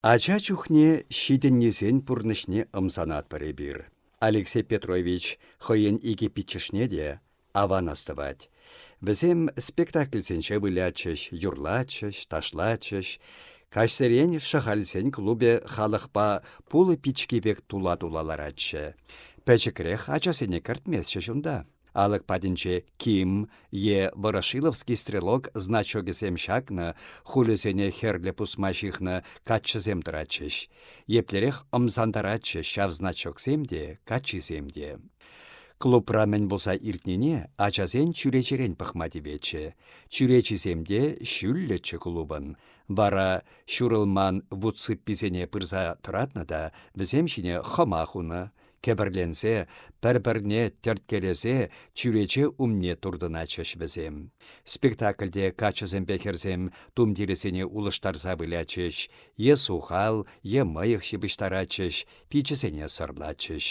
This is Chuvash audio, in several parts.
Ача чухне ҫитӗннисен пурнӑҫне ӑмсанатпӑр эпир. Алексей Петрович хӑйӗн икӗ пиччӗшне те аван астӑвать. Вӗсем спектакльсенче вылятчӗҫ, юрлатчӗҫ, ташлатчӗҫ. Каҫсерен Шӑхальсен клубӗ халӑхпа пулӑ пички пек тула-тула ларатчӗ. Пӗчӗкрех ачасене кӗртместчӗҫ унта. Алӑк патӗнче Ким е Ворошиловский стрелок значокӗсем ҫакнӑ, хулӗсене хӗрлӗ пусма ҫыхнӑ каччӑсем тӑратчӗҫ. Еплерех ӑмсантаратчӗҫ ҫав значоксем те, каччисем те. Клубра мӗн пулса иртнине ачасен чӳречерен пӑхма тиветчӗ. Чӳречисем те ҫӳллӗччӗ клубӑн. Вара ҫурӑлман вут сыпписене пырса тӑратнӑ та вӗсем ҫине хӑма хунӑ. Кӗпӗрленсе, пӗр-пӗрне тӗрткелесе чӳрече умне туртӑнатчӗҫ вӗсем. Спектакльте каччӑсемпе хӗрсем тумтирӗсене улӑштарса вылятчӗҫ, е сухал, е мӑйӑх ҫыпӑҫтаратчӗҫ, пиччӗсене сӑрлатчӗҫ.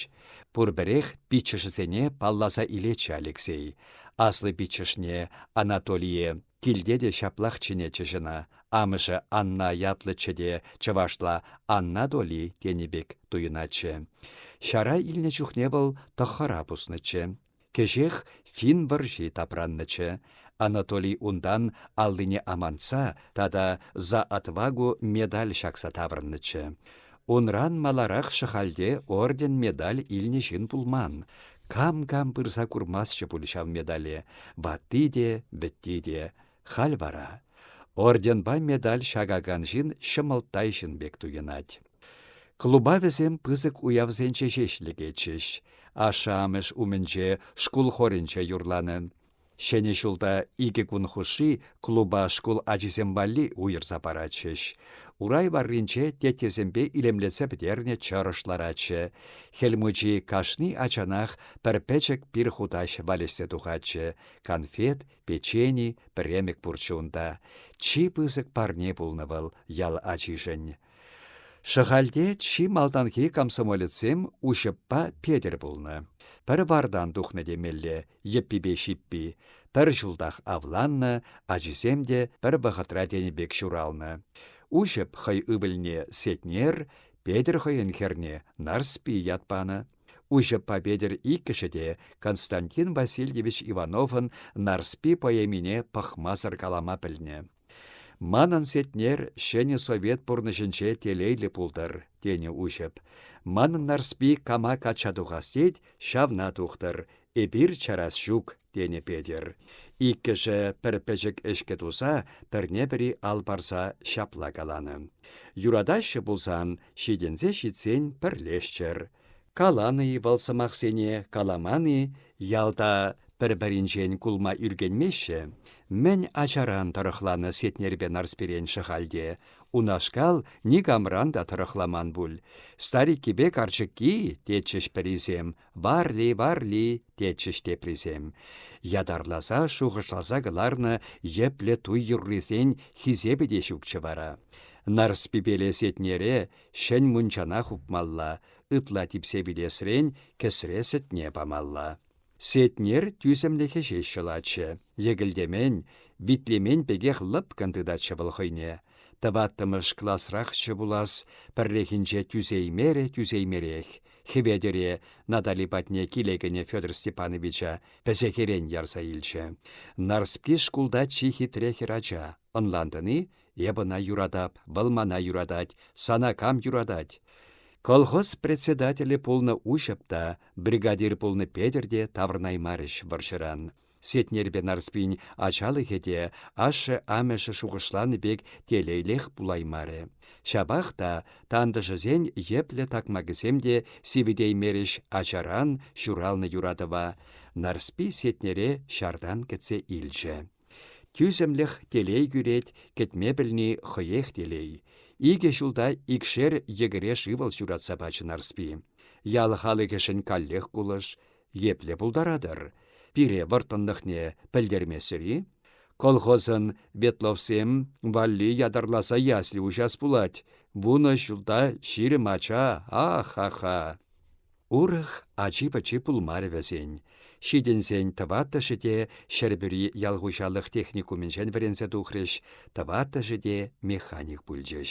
Пурпӗрех пиччӗшӗсене палласа илетчӗ Алексей. Аслӑ пиччӗшне, Анатолие, Килте те ҫаплах чӗнетчӗҫ ӑна. Амӑшӗ Анна ятлӑччӗ те чӑвашла Анна Доли тенӗ пек туйӑнатчӗ. Ҫара илнӗ чухне вӑл тӑххӑра пуснӑччӗ. Кӗҫех финн вӑрҫи тапраннӑччӗ. Анатолий унтан аллине амантса тата за отвагу медаль ҫакса таврӑннӑччӗ. Унран маларах Шӑхальте орден-медаль илнӗ ҫын пулман. Кам-кам пырса курмастчӗ пуль ҫав медале. Ватти те, вӗтти те. Халь вара орденпа медаль ҫакакан ҫын ҫӑмӑлттай ҫын пек туйӑнать. Клуба вӗсем пысӑк уявсенче ҫеҫ лекетчӗҫ. Ашшӗ-амӑш умӗнче шкул хорӗнче юрланӑ. Ҫӗнӗ ҫулта икӗ кун хушши клуба шкул ачисем валли уйӑрса паратчӗҫ. Урай варринче теттесемпе илемлетсе пӗтернӗ чӑрӑш ларатчӗ. Хӗл мучи кашни ачанах пӗр пӗчӗк пир хутаҫ валеҫсе тухатчӗ. Конфет, печени, премӗк пурччӗ унта. Чи пысӑк парне пулнӑ вӑл ял ачишӗн. Шӑхальте чи малтанхи комсомолецсем Уҫӑппа Петӗр пулнӑ. Пӗр вартан тухнӑ темелле, йӗппипе ҫиппи. Пӗр ҫултах авланнӑ, ачисем те пӗр вӑхӑтра тенӗ пек ҫуралнӑ. Уҫӑп хӑй ывӑлне Сетнер, Петӗр хӑйӗн хӗрне Нарспи ят панӑ. Уҫӑппа Петӗр иккӗшӗ те Константин Васильевич Ивановӑн Нарспи поэмине пӑхмасӑр калама пӗлнӗ. Манӑн Сетнер ҫӗнӗ совет пурнӑҫӗнче телейлӗ пултӑр, тенӗ Уҫӑп. Манӑн Нарспи кама качча тухас тет, ҫавна тухтӑр, эпир чарас ҫук, тенӗ Петӗр. Иккӗшӗ пӗр пӗчӗк ӗҫкӗ туса, пӗрне-пӗри ал парса ҫапла каланӑ. Юратаҫҫӗ пулсан, ҫитӗнсе ҫитсен пӗрлешчӗр. Каланӑ-и вӑл сӑмахсене, каламан-и, ялта пӗр-пӗринчен кулма ӳркенмеҫҫӗ. Мӗн ачаран тӑрӑхланӑ Сетнерпе Нарспирен Шӑхальте. Унашкал никамран та тӑрӑхламан пуль. Стариккипе карчӑкки, тетчӗҫ пӗрисем, варли, варли, тетчӗҫ теприсем. Ятарласа, шухӑшласа кӑларнӑ йӗплӗ туй юррисен хисепӗ те ҫукчӗ вара. Нарспипеле Сетнере Ҫӗн мунчана хупмалла, ытла типсе вилесрен кӗсре сӗтне памалла. Сетнер тӳсӗмлӗхӗ ҫеҫ ҫӑлатчӗ. Йӗкӗлтемен, витлемен пекех лӑпкӑн тытатчӗ вӑл хӑйне. Тӑваттӑмӗш класрахчӗ пулас, пӗррехинче тӳсеймерӗ тӳсеймерех. Хӗветӗре Натали патне киле кӗнӗ Федор Степановича пӗсехерен ярса илчӗ. Нарспи шкулта чи хитре хӗрача. Ӑнлантӑн-и? Эп ӑна юратап, вӑл мана юратать, сана кам юратать? Колхоз председателӗ пулнӑ Уҫӑп та, бригадир пулнӑ Петӗр те таврӑнаймарӗҫ вӑрҫӑран. Сетнерпе Нарспин ачалӑхӗ те ашшӗ-амӑшӗ шухӑшланӑ пек телейлех пулаймарӗ. Ҫапах та тантӑшӗсен йӗплӗ такмакӗсем те сивӗтеймерӗҫ ачаран ҫуралнӑ юратӑва. Нарспи Сетнере ҫартан кӗтсе илчӗ. Тӳсӗмлӗх телей кӳрет, кӗтме пӗлни хӑех телей. Икӗ ҫулта икшер йӗкӗре шывӑл ҫуратса пачӗ Нарспи. Ял халӑхӗшӗн каллех кулӑш. Епле пултаратӑр? Пире вӑрттӑнлӑхне пӗлтермесӗр-и? Колхозӑн ветловсем валли ятарласа ясли уҫас пулать. Вунӑ ҫулта ҫирӗм ача, ах-ха-ха! Урӑх ачи-пӑчи пулмарӗ вӗсен. Ҫитӗнсен тӑваттӑшӗ те Ҫӗрпӳри ял хуҫалӑх техникумӗнчен вӗренсе тухрӗҫ, тӑваттӑшӗ те механик пулчӗҫ.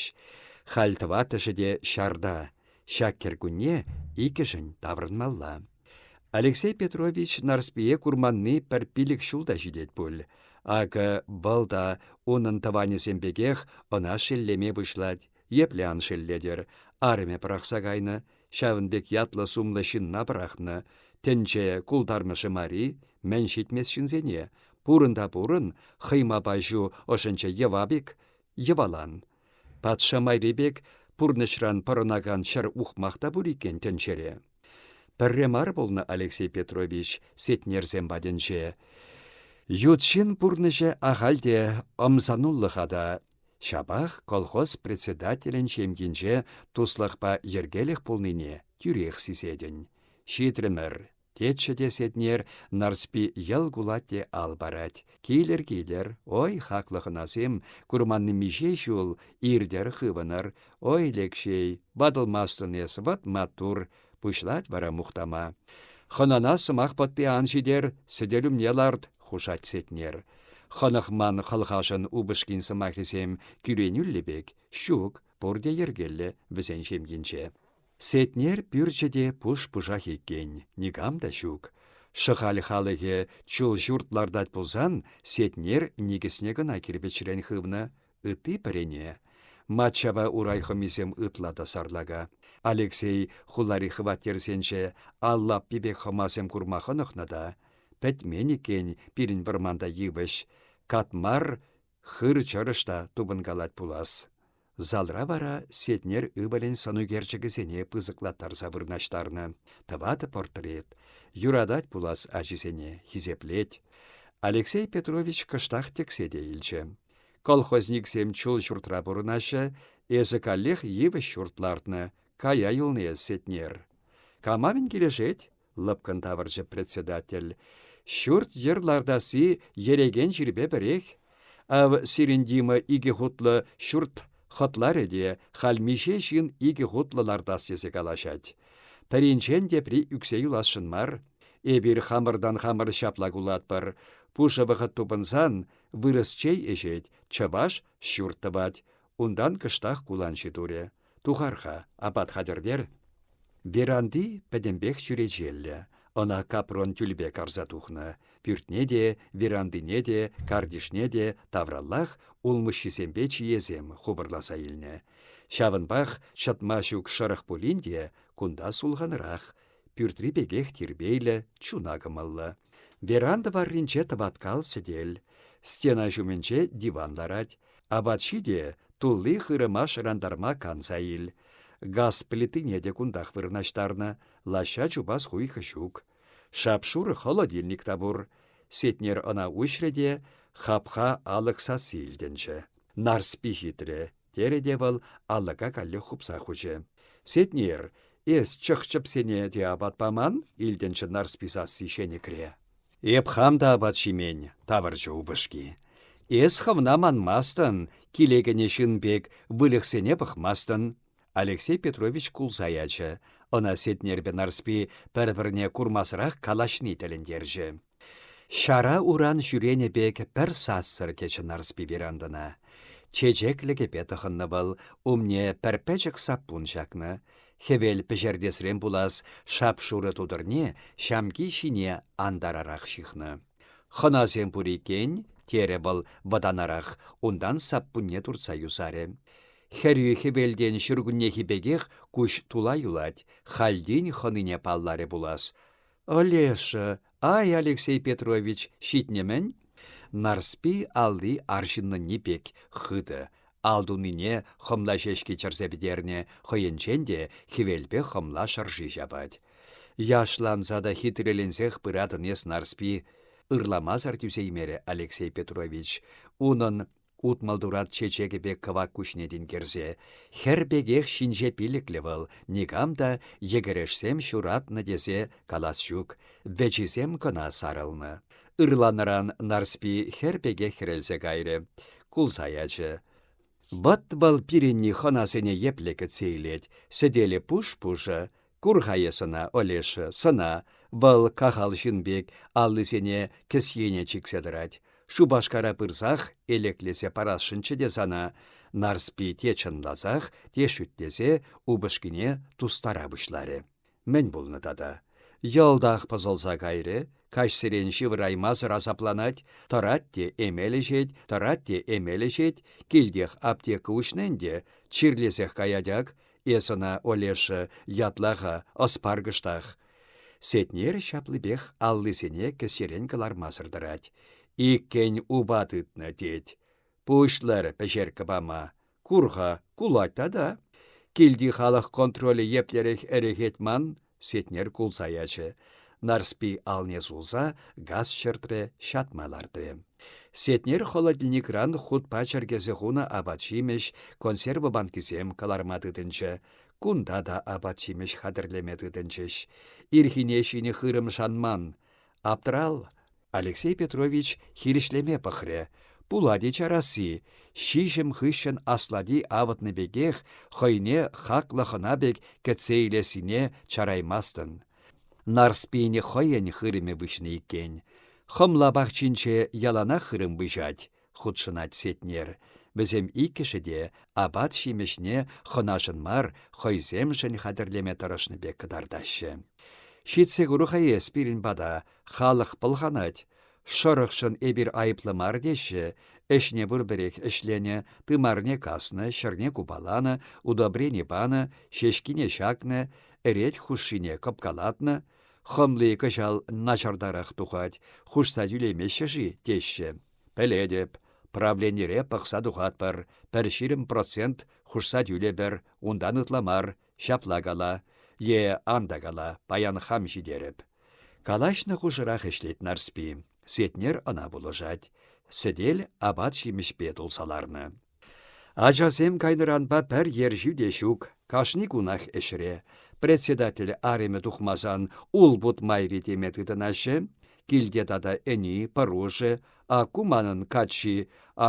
Халь тӑваттӑшӗ те ҫарта. Ҫак кӗркунне иккӗшӗн таврӑнмалла. Алексей Петрович Нарспие курманни пӗр пилӗк ҫул та ҫитет пуль. Акӑ, вӑл та унӑн тӑванӗсем пекех ӑна шеллеме пуҫлать. Епле ан шеллетӗр, арӑмӗ пӑрахса кайнӑ, ҫавӑн пек ятлӑ-сумлӑ ҫынна пӑрахнӑ. Тӗнче култармӑшӗ мари, мӗн ҫитмест ҫынсене. Пурӑн та пурӑн, хӑймапа ҫу ӑшӗнче йӑва-бик, йӑвалан. Патша майри пек пурнӑҫран пӑрӑнакан ҫӗр ухмах та пур иккен тӗнчере. Пӗрре мар пулнӑ Алексей Петрович Сетнерсем патӗнче. Ют ҫын пурнӑҫӗ ахаль те ӑмсануллӑха та Ҫапах колхоз председателӗн ҫемйинче туслӑхпа йӗркелӗх пулнине тӳрех сисетӗн. Ҫитрӗмӗр, тетчӗ те Сетнер Нарспи йӑл кулать те ал парать. Килӗр, килӗр, ой, хаклӑ хӑнасем, курманни миҫе ҫул, иртӗр, хывӑнӑр. Ой, Лекҫей, ватӑлмастӑн эс, вӑт маттур, Пуҫлать вара мухтама. Хӑнана сӑмах пӑтти ан ҫитер, сӗтел умне ларт, хушать Сетнер. Хӑнӑхман хӑлхашӑн упӑшкин сӑмахӗсем кӳренӳллӗ пек, ҫук, пурте йӗркеллӗ вӗсен ҫемйинче. Сетнер пӳрчӗ те пуш-пушах иккен, никам та ҫук. Шӑхаль халӑхӗ чул ҫурт лартать пулсан, Сетнер никӗсне кӑна кирпӗчрен хывнӑ, Ытти пӗрене, Матчапа урай хӑмисем ытла та сарлака. Алексей хулари хваттерсенче ал лаппи пек хӑмасем курма хӑнӑхнӑ та. Пӗтмен иккен пирӗн вӑрманта йывӑҫ. Катмар хыр чӑрӑш та тупӑнкалать пулас. Залра вара Сетнер ывӑлӗн сӑнӳкерчӗкӗсене пысӑклаттарса вырнаҫтарнӑ. Тӑватӑ портрет. Юратать пулас ачисене, хисеплет. Алексей Петрович кӑштах тӗксе те илчӗ. Колхозниксем чул ҫуртра пурӑнаҫҫӗ, эсӗ каллех йывӑҫ ҫурт лартнӑ, кая юлни эс, Сетнер. Камавӗн килӗшет? лӑпкӑн тавӑрчӗ председатель. Ҫурт-йӗр лартасси ерекен чирпе пӗрех. Ав сирӗн Дима икӗ хутлӑ ҫурт хӑтларӗ те халь миҫе ҫын икӗ хутлӑ лартас тесе калаҫать. Пӗринчен тепри ӳксе юласшӑн мар. Эпир хамӑртан хамӑр ҫапла кулатпӑр. Пушӑ вӑхӑт тупӑнсан Вырӑс чей ӗҫет, чӑваш ҫурт тӑвать. Унтан кӑштах куланҫи турӗ. Тухар-ха, апат хатӗртер. Веранди пӗтӗмпех чӳречеллӗ. Ӑна капрон тӳлпе карса тухнӑ. Пӳртне те, верандине те, картишне те тавраллах улмуҫҫисемпе чиесем хупӑрласа илнӗ. Ҫавӑнпах ҫӑтма ҫук шӑрӑх пулин те кунта сулханрах. Пӳртри пекех тирпейлӗ, чуна кӑмӑллӑ. Веранда варринче тӑваткал сӗтел. Стена ҫумӗнче диван ларать. Апат ҫи те тулли хырӑма шӑрантарма канса ил. Газ плитине те кунтах вырнаҫтарнӑ, лаҫҫа чупас хуйхӑ ҫук. Шап-шурӑ холодильник та пур. Сетнер ӑна уҫрӗ те хапха алӑк сасси илтӗнчӗ. Нарспи ҫитрӗ, терӗ те вӑл алӑка каллех хупса хучӗ. «Сетнер, эс чӑх-чӗпсене те апат паман?» — илтӗнчӗ Нарспи сасси ҫенӗкре. «Эп хам та апат ҫимен», — тавӑрчӗ упӑшки. «Эс хӑвна манмастӑн, киле кӗнӗ ҫын пек выльӑхсене пӑхмастӑн». Алексей Петрович кулса ячӗ. Ӑна Сетнерпе Нарспи пӗр-пӗрне курмасӑрах калаҫни тӗлӗнтерчӗ. Ҫара уран ҫӳренӗ пек пӗр сассӑр кӗчӗ Нарспи верандӑна. Чечеклӗ кӗпе тӑхӑннӑ вӑл, умне пӗр пӗчӗк саппун ҫакнӑ. Хӗвел пӗҫертесрен пулас шап-шурӑ тутӑрне ҫамки ҫине антарарах ҫыхнӑ. «Хӑнасем пур иккен», – терӗ вӑл вӑтанарах, унтан саппунне туртса юсарӗ. Хӗрӳ хӗвелтен ҫуркуннехи пекех куҫ тула юлать, хальтен хӑнине палларӗ пулас. Олеша, ай, Алексей Петрович, ҫитнӗ-мӗн? Нарспи алли арҫыннӑнни пек хытӑ, ал тунине хӑмла ҫеҫки чӗрсе пӗтернӗ, хӑйӗнчен те хӗвелпе хӑмла шӑрши ҫапать. Яшланса та хитреленсех пыратӑн эс, Нарспи, ырламасӑр тӳсеймерӗ Алексей Петрович. Унӑн Утмӑлтурат чечекӗ пек кӑвак куҫне тинкерсе, хӗр пекех ҫинҫе пилӗклӗ вӑл, никам та йӗкӗрешсем ҫуратнӑ тесе калас ҫук, вӗчисем кӑна сарӑлнӑ. Ырланӑран Нарспи хӗр пекех хӗрелсе кайрӗ, кулса ячӗ. Вӑт вӑл пирӗнни хӑнасене епле кӗтсе илет, сӗтелӗ пуш-пушӑ, Кур-ха эс ӑна, Олеша, сӑна. Вӑл кахал ҫын пек аллисене кӗсьене чиксе тӑрать. Шупашкара пырсах элеклесе парасшӑнччӗ те сана. Нарспи те чӑнласах, те шӳтлесе упӑшкине тустара пуҫларӗ. Мӗн пулнӑ тата? Йӑлтах пӑсӑлса кайрӗ, каҫсерен ҫывӑраймасӑр асапланать, тӑрать те эмел ӗҫет, тӑрать те эмел ӗҫет, килтех аптека уҫнӑ ӗнтӗ, чирлесех каять ак, Эс ӑна, Олеша, ятла-ха, ӑс паркӑштах. Сетнер ҫаплипех аллисене кӗсьерен кӑлармасӑр тӑрать. Иккӗн упа тытнӑ, тет. Пуҫлӑр пӗҫерккӗ пама. Кур-ха, кулать тата. Килти халӑх контролӗ еплерех ӗрӗхет ман, Сетнер кулса ячӗ. Нарспи алне сулса газ ҫӗртрӗ, ҫатма лартрӗ. Сетнер холодильникран хутпа чӗркесе хунӑ апат-ҫимӗҫ, консерва банкисем кӑларма тытӑнчӗ. Кунта та апат-ҫимӗҫ хатӗрлеме тытӑнчӗҫ. Ирхине ҫинӗ хырӑм шанман. Аптӑрал! Алексей Петрович хирӗҫлеме пӑхрӗ. Пулать-и чарасси, ҫиҫӗм хыҫҫӑн аслати авӑтнӑ пекех хӑйне хаклӑ хӑна пек кӗтсе илессине чараймастӑн. Нарспийӗн хӑйӗн хырӑмӗ выҫнӑ иккен. Хӑмла пахчинче яланах хырӑм выҫать. хутшӑнать Сетнер. Вӗсем иккӗшӗ те апат-ҫимӗҫне хӑнашӑн мар, хӑйсемшӗн хатӗрлеме тӑрӑшнӑ пек кӑтартаҫҫӗ. Ҫитсе куру-ха эс пирӗн пата, халӑх пӑлханать. Шӑрӑхшӑн эпир айӑплӑ мар теҫҫӗ. Ӗҫне пурпӗрех ӗҫленӗ, тымарне каснӑ, ҫӗрне купаланӑ, удобрени панӑ, ҫеҫкине ҫакнӑ, ӗрет хушшине кӑпкалатнӑ. Хӑмли кӑҫал начартарах тухать, хушса тӳлемеҫҫӗ-ши теҫҫӗ. Пӗлетӗп, правленире пӑхса тухатпӑр, пӗр ҫирӗм процент хушса тӳлепӗр, унтан ытла мар, ҫапла кала. Е ан та кала, паян хам ҫитерӗп. Калаҫнӑ хушӑрах ӗҫлет Нарспи. Сетнер ӑна пулӑшать. Сӗтел апат-ҫимӗҫпе тулса ларнӑ. Ачасем кайнӑранпа пӗр ерҫӳ те ҫук, кашни кунах ӗҫре. Председатель аримӗ тухмасан улпут майри теме тытӑнаҫҫӗ. Килте тата ӗни, пӑрушӗ, акку манӑн каччи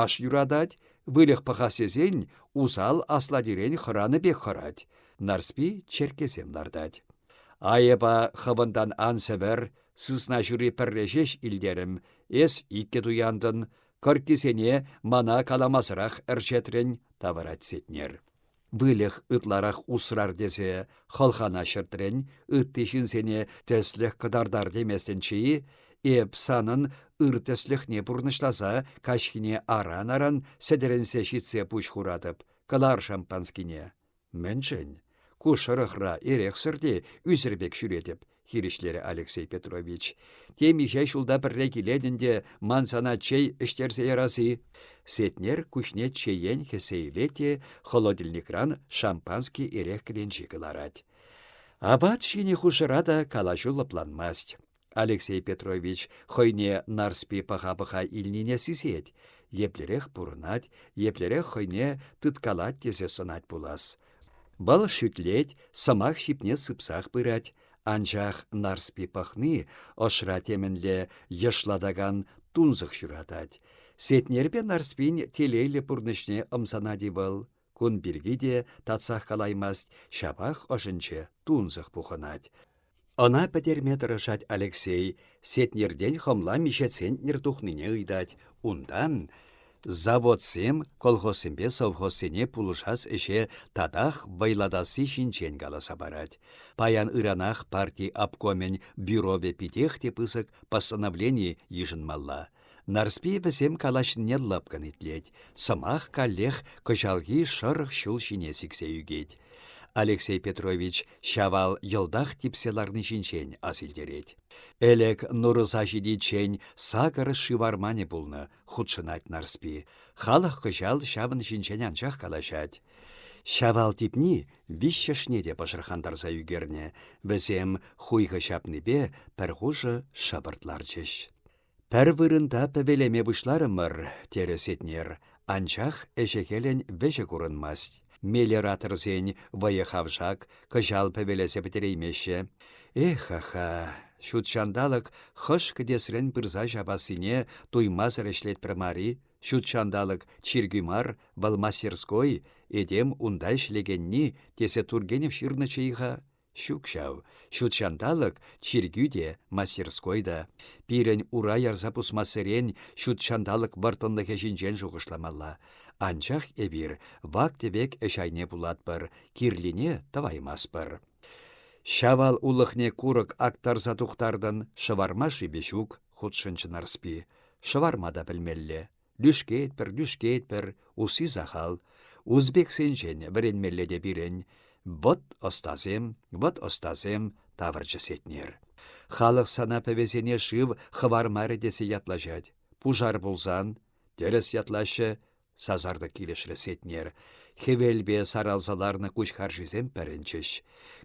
аш юратать, выльӑх пӑхас тесен усал аслатирен хӑранӑ пек хӑрать. Нарспи черккесем лартать. Айӑпа хӑвӑнтан ан сӗвӗр, сысна ҫури пӗрре ҫеҫ илтерӗм, эс иккӗ туянтӑн, Кӑрккисене мана каламасӑрах ӗрчетрӗн, тавӑрать Сетнер. Выльӑх ытларах усрар тесе хӑлхана ҫӗртрӗн, ытти ҫынсене тӗслӗх кӑтартар теместӗнчи, эп санӑн ыр тӗслӗхне пурнӑҫласа каҫхине аран-аран сӗтӗрӗнсе ҫитсе пуҫ хуратӑп, кӑлар шампанскине. Мӗншӗн? Ку шӑрӑхра эрехсӗр те ӳсӗр пек ҫӳретӗп, хирӗҫлерӗ Алексей Петрович. Темиҫе ҫулта пӗрре килет ӗнтӗ ман сана чей ӗҫтерсе ярасси. Сетнер куҫне чеен хӗссе илет те холодильникран шампански эрех кӗленчи кӑларать. Апат ҫинӗ хушӑра та калаҫу лӑпланмасть. Алексей Петрович хӑйне Нарспи пӑха-пӑха илнине сисет. Еплерех пурӑнать, еплерех хӑйне тыткалать тесе сӑнать пулас. Вӑл шӳтлет, сӑмах ҫипне сыпсах пырать, анчах Нарспи пӑхни ӑшра темӗнле йышлатакан тунсӑх ҫуратать. Сетнерпе Нарспин телейлӗ пурнӑҫне ӑмсанать-и вӑл? Кун пирки те татсах калаймасть, ҫапах ӑшӗнче тунсӑх пухӑнать. Ӑна пӗтерме тӑрӑшать Алексей, Сетнертен хӑмла миҫе центнер тухнине ыйтать. Унтан заводсем колхозсемпе совхозсене пулӑшас ӗҫе татах вӑйлатасси ҫинчен каласа парать. Паян ыранах парти обкомӗн бюровӗ питех те пысӑк постановлени йышӑнмалла. Нарспи вӗсем калаҫнине лӑпкӑн итлет, сӑмах каллех кӑҫалхи шӑрӑх ҫул ҫине сиксе ӳкет. Алексей Петрович Ҫавал йӑлтах типсе ларни ҫинчен асилтерет. Ӗлӗк Нурӑса ҫитиччен сакӑр шыварманӗ пулнӑ, хутшӑнать Нарспи. Халӑх кӑҫал ҫавӑн ҫинчен анчах калаҫать. Ҫавал типни виҫҫӗшне те пӑшӑрхантарса ӳкернӗ. Вӗсем хуйхӑ ҫапнипе пӗр хушӑ шӑпӑрт ларчӗҫ. Пӗр вырӑнта пӗвелеме пуҫларӑмӑр, терӗ Сетнер, анчах ӗҫӗ-хӗлӗн вӗҫӗ курӑнмасть. Мелиораторсен вӑйӑ-хавшак кӑҫал пӗвелесе пӗтереймеҫҫӗ. Эх-ха, ҫут ҫанталӑк хӑш кӗтесрен пырса ҫапассине туймасӑр ӗҫлетпӗр мар-и? Ҫут ҫанталӑк чиркӳ мар, вӑл мастерской, этем унта ӗҫлекенни, тесе Тургенев ҫырнӑччӗ-и-ха? Ҫук ҫав, ҫут ҫанталӑк чиркӳ те, мастерской та. Пирӗн ура ярса пусмассерен ҫут ҫанталӑк вӑрттӑнлӑхӗ ҫинчен шухӑшламалла. Анчах эпир вак-тӗвек ӗҫ айне пулатпӑр, кирлине тӑваймастпӑр. Ҫавал улӑхне курӑк актарса тухтартӑн, шӑварма шипе ҫук, хутшӑнчӗ Нарспи. Шӑварма та пӗлмелле. Лӳшкетпӗр, лӳшкетпӗр, усси сахал. Узбексенчен вӗренмелле те пирӗн. Вӑт ӑстасем, вӑт ӑстасем, тавӑрчӗ Сетнер. Халӑх сана пӗвесене шыв хӑвармарӗ тесе ятлаҫать. Пушар пулсан, тӗрӗс ятлаҫҫӗ, сасартӑк килӗшрӗ Сетнер. Хӗвелпе саралса ларнӑ куҫ харшисем пӗрӗнчӗҫ.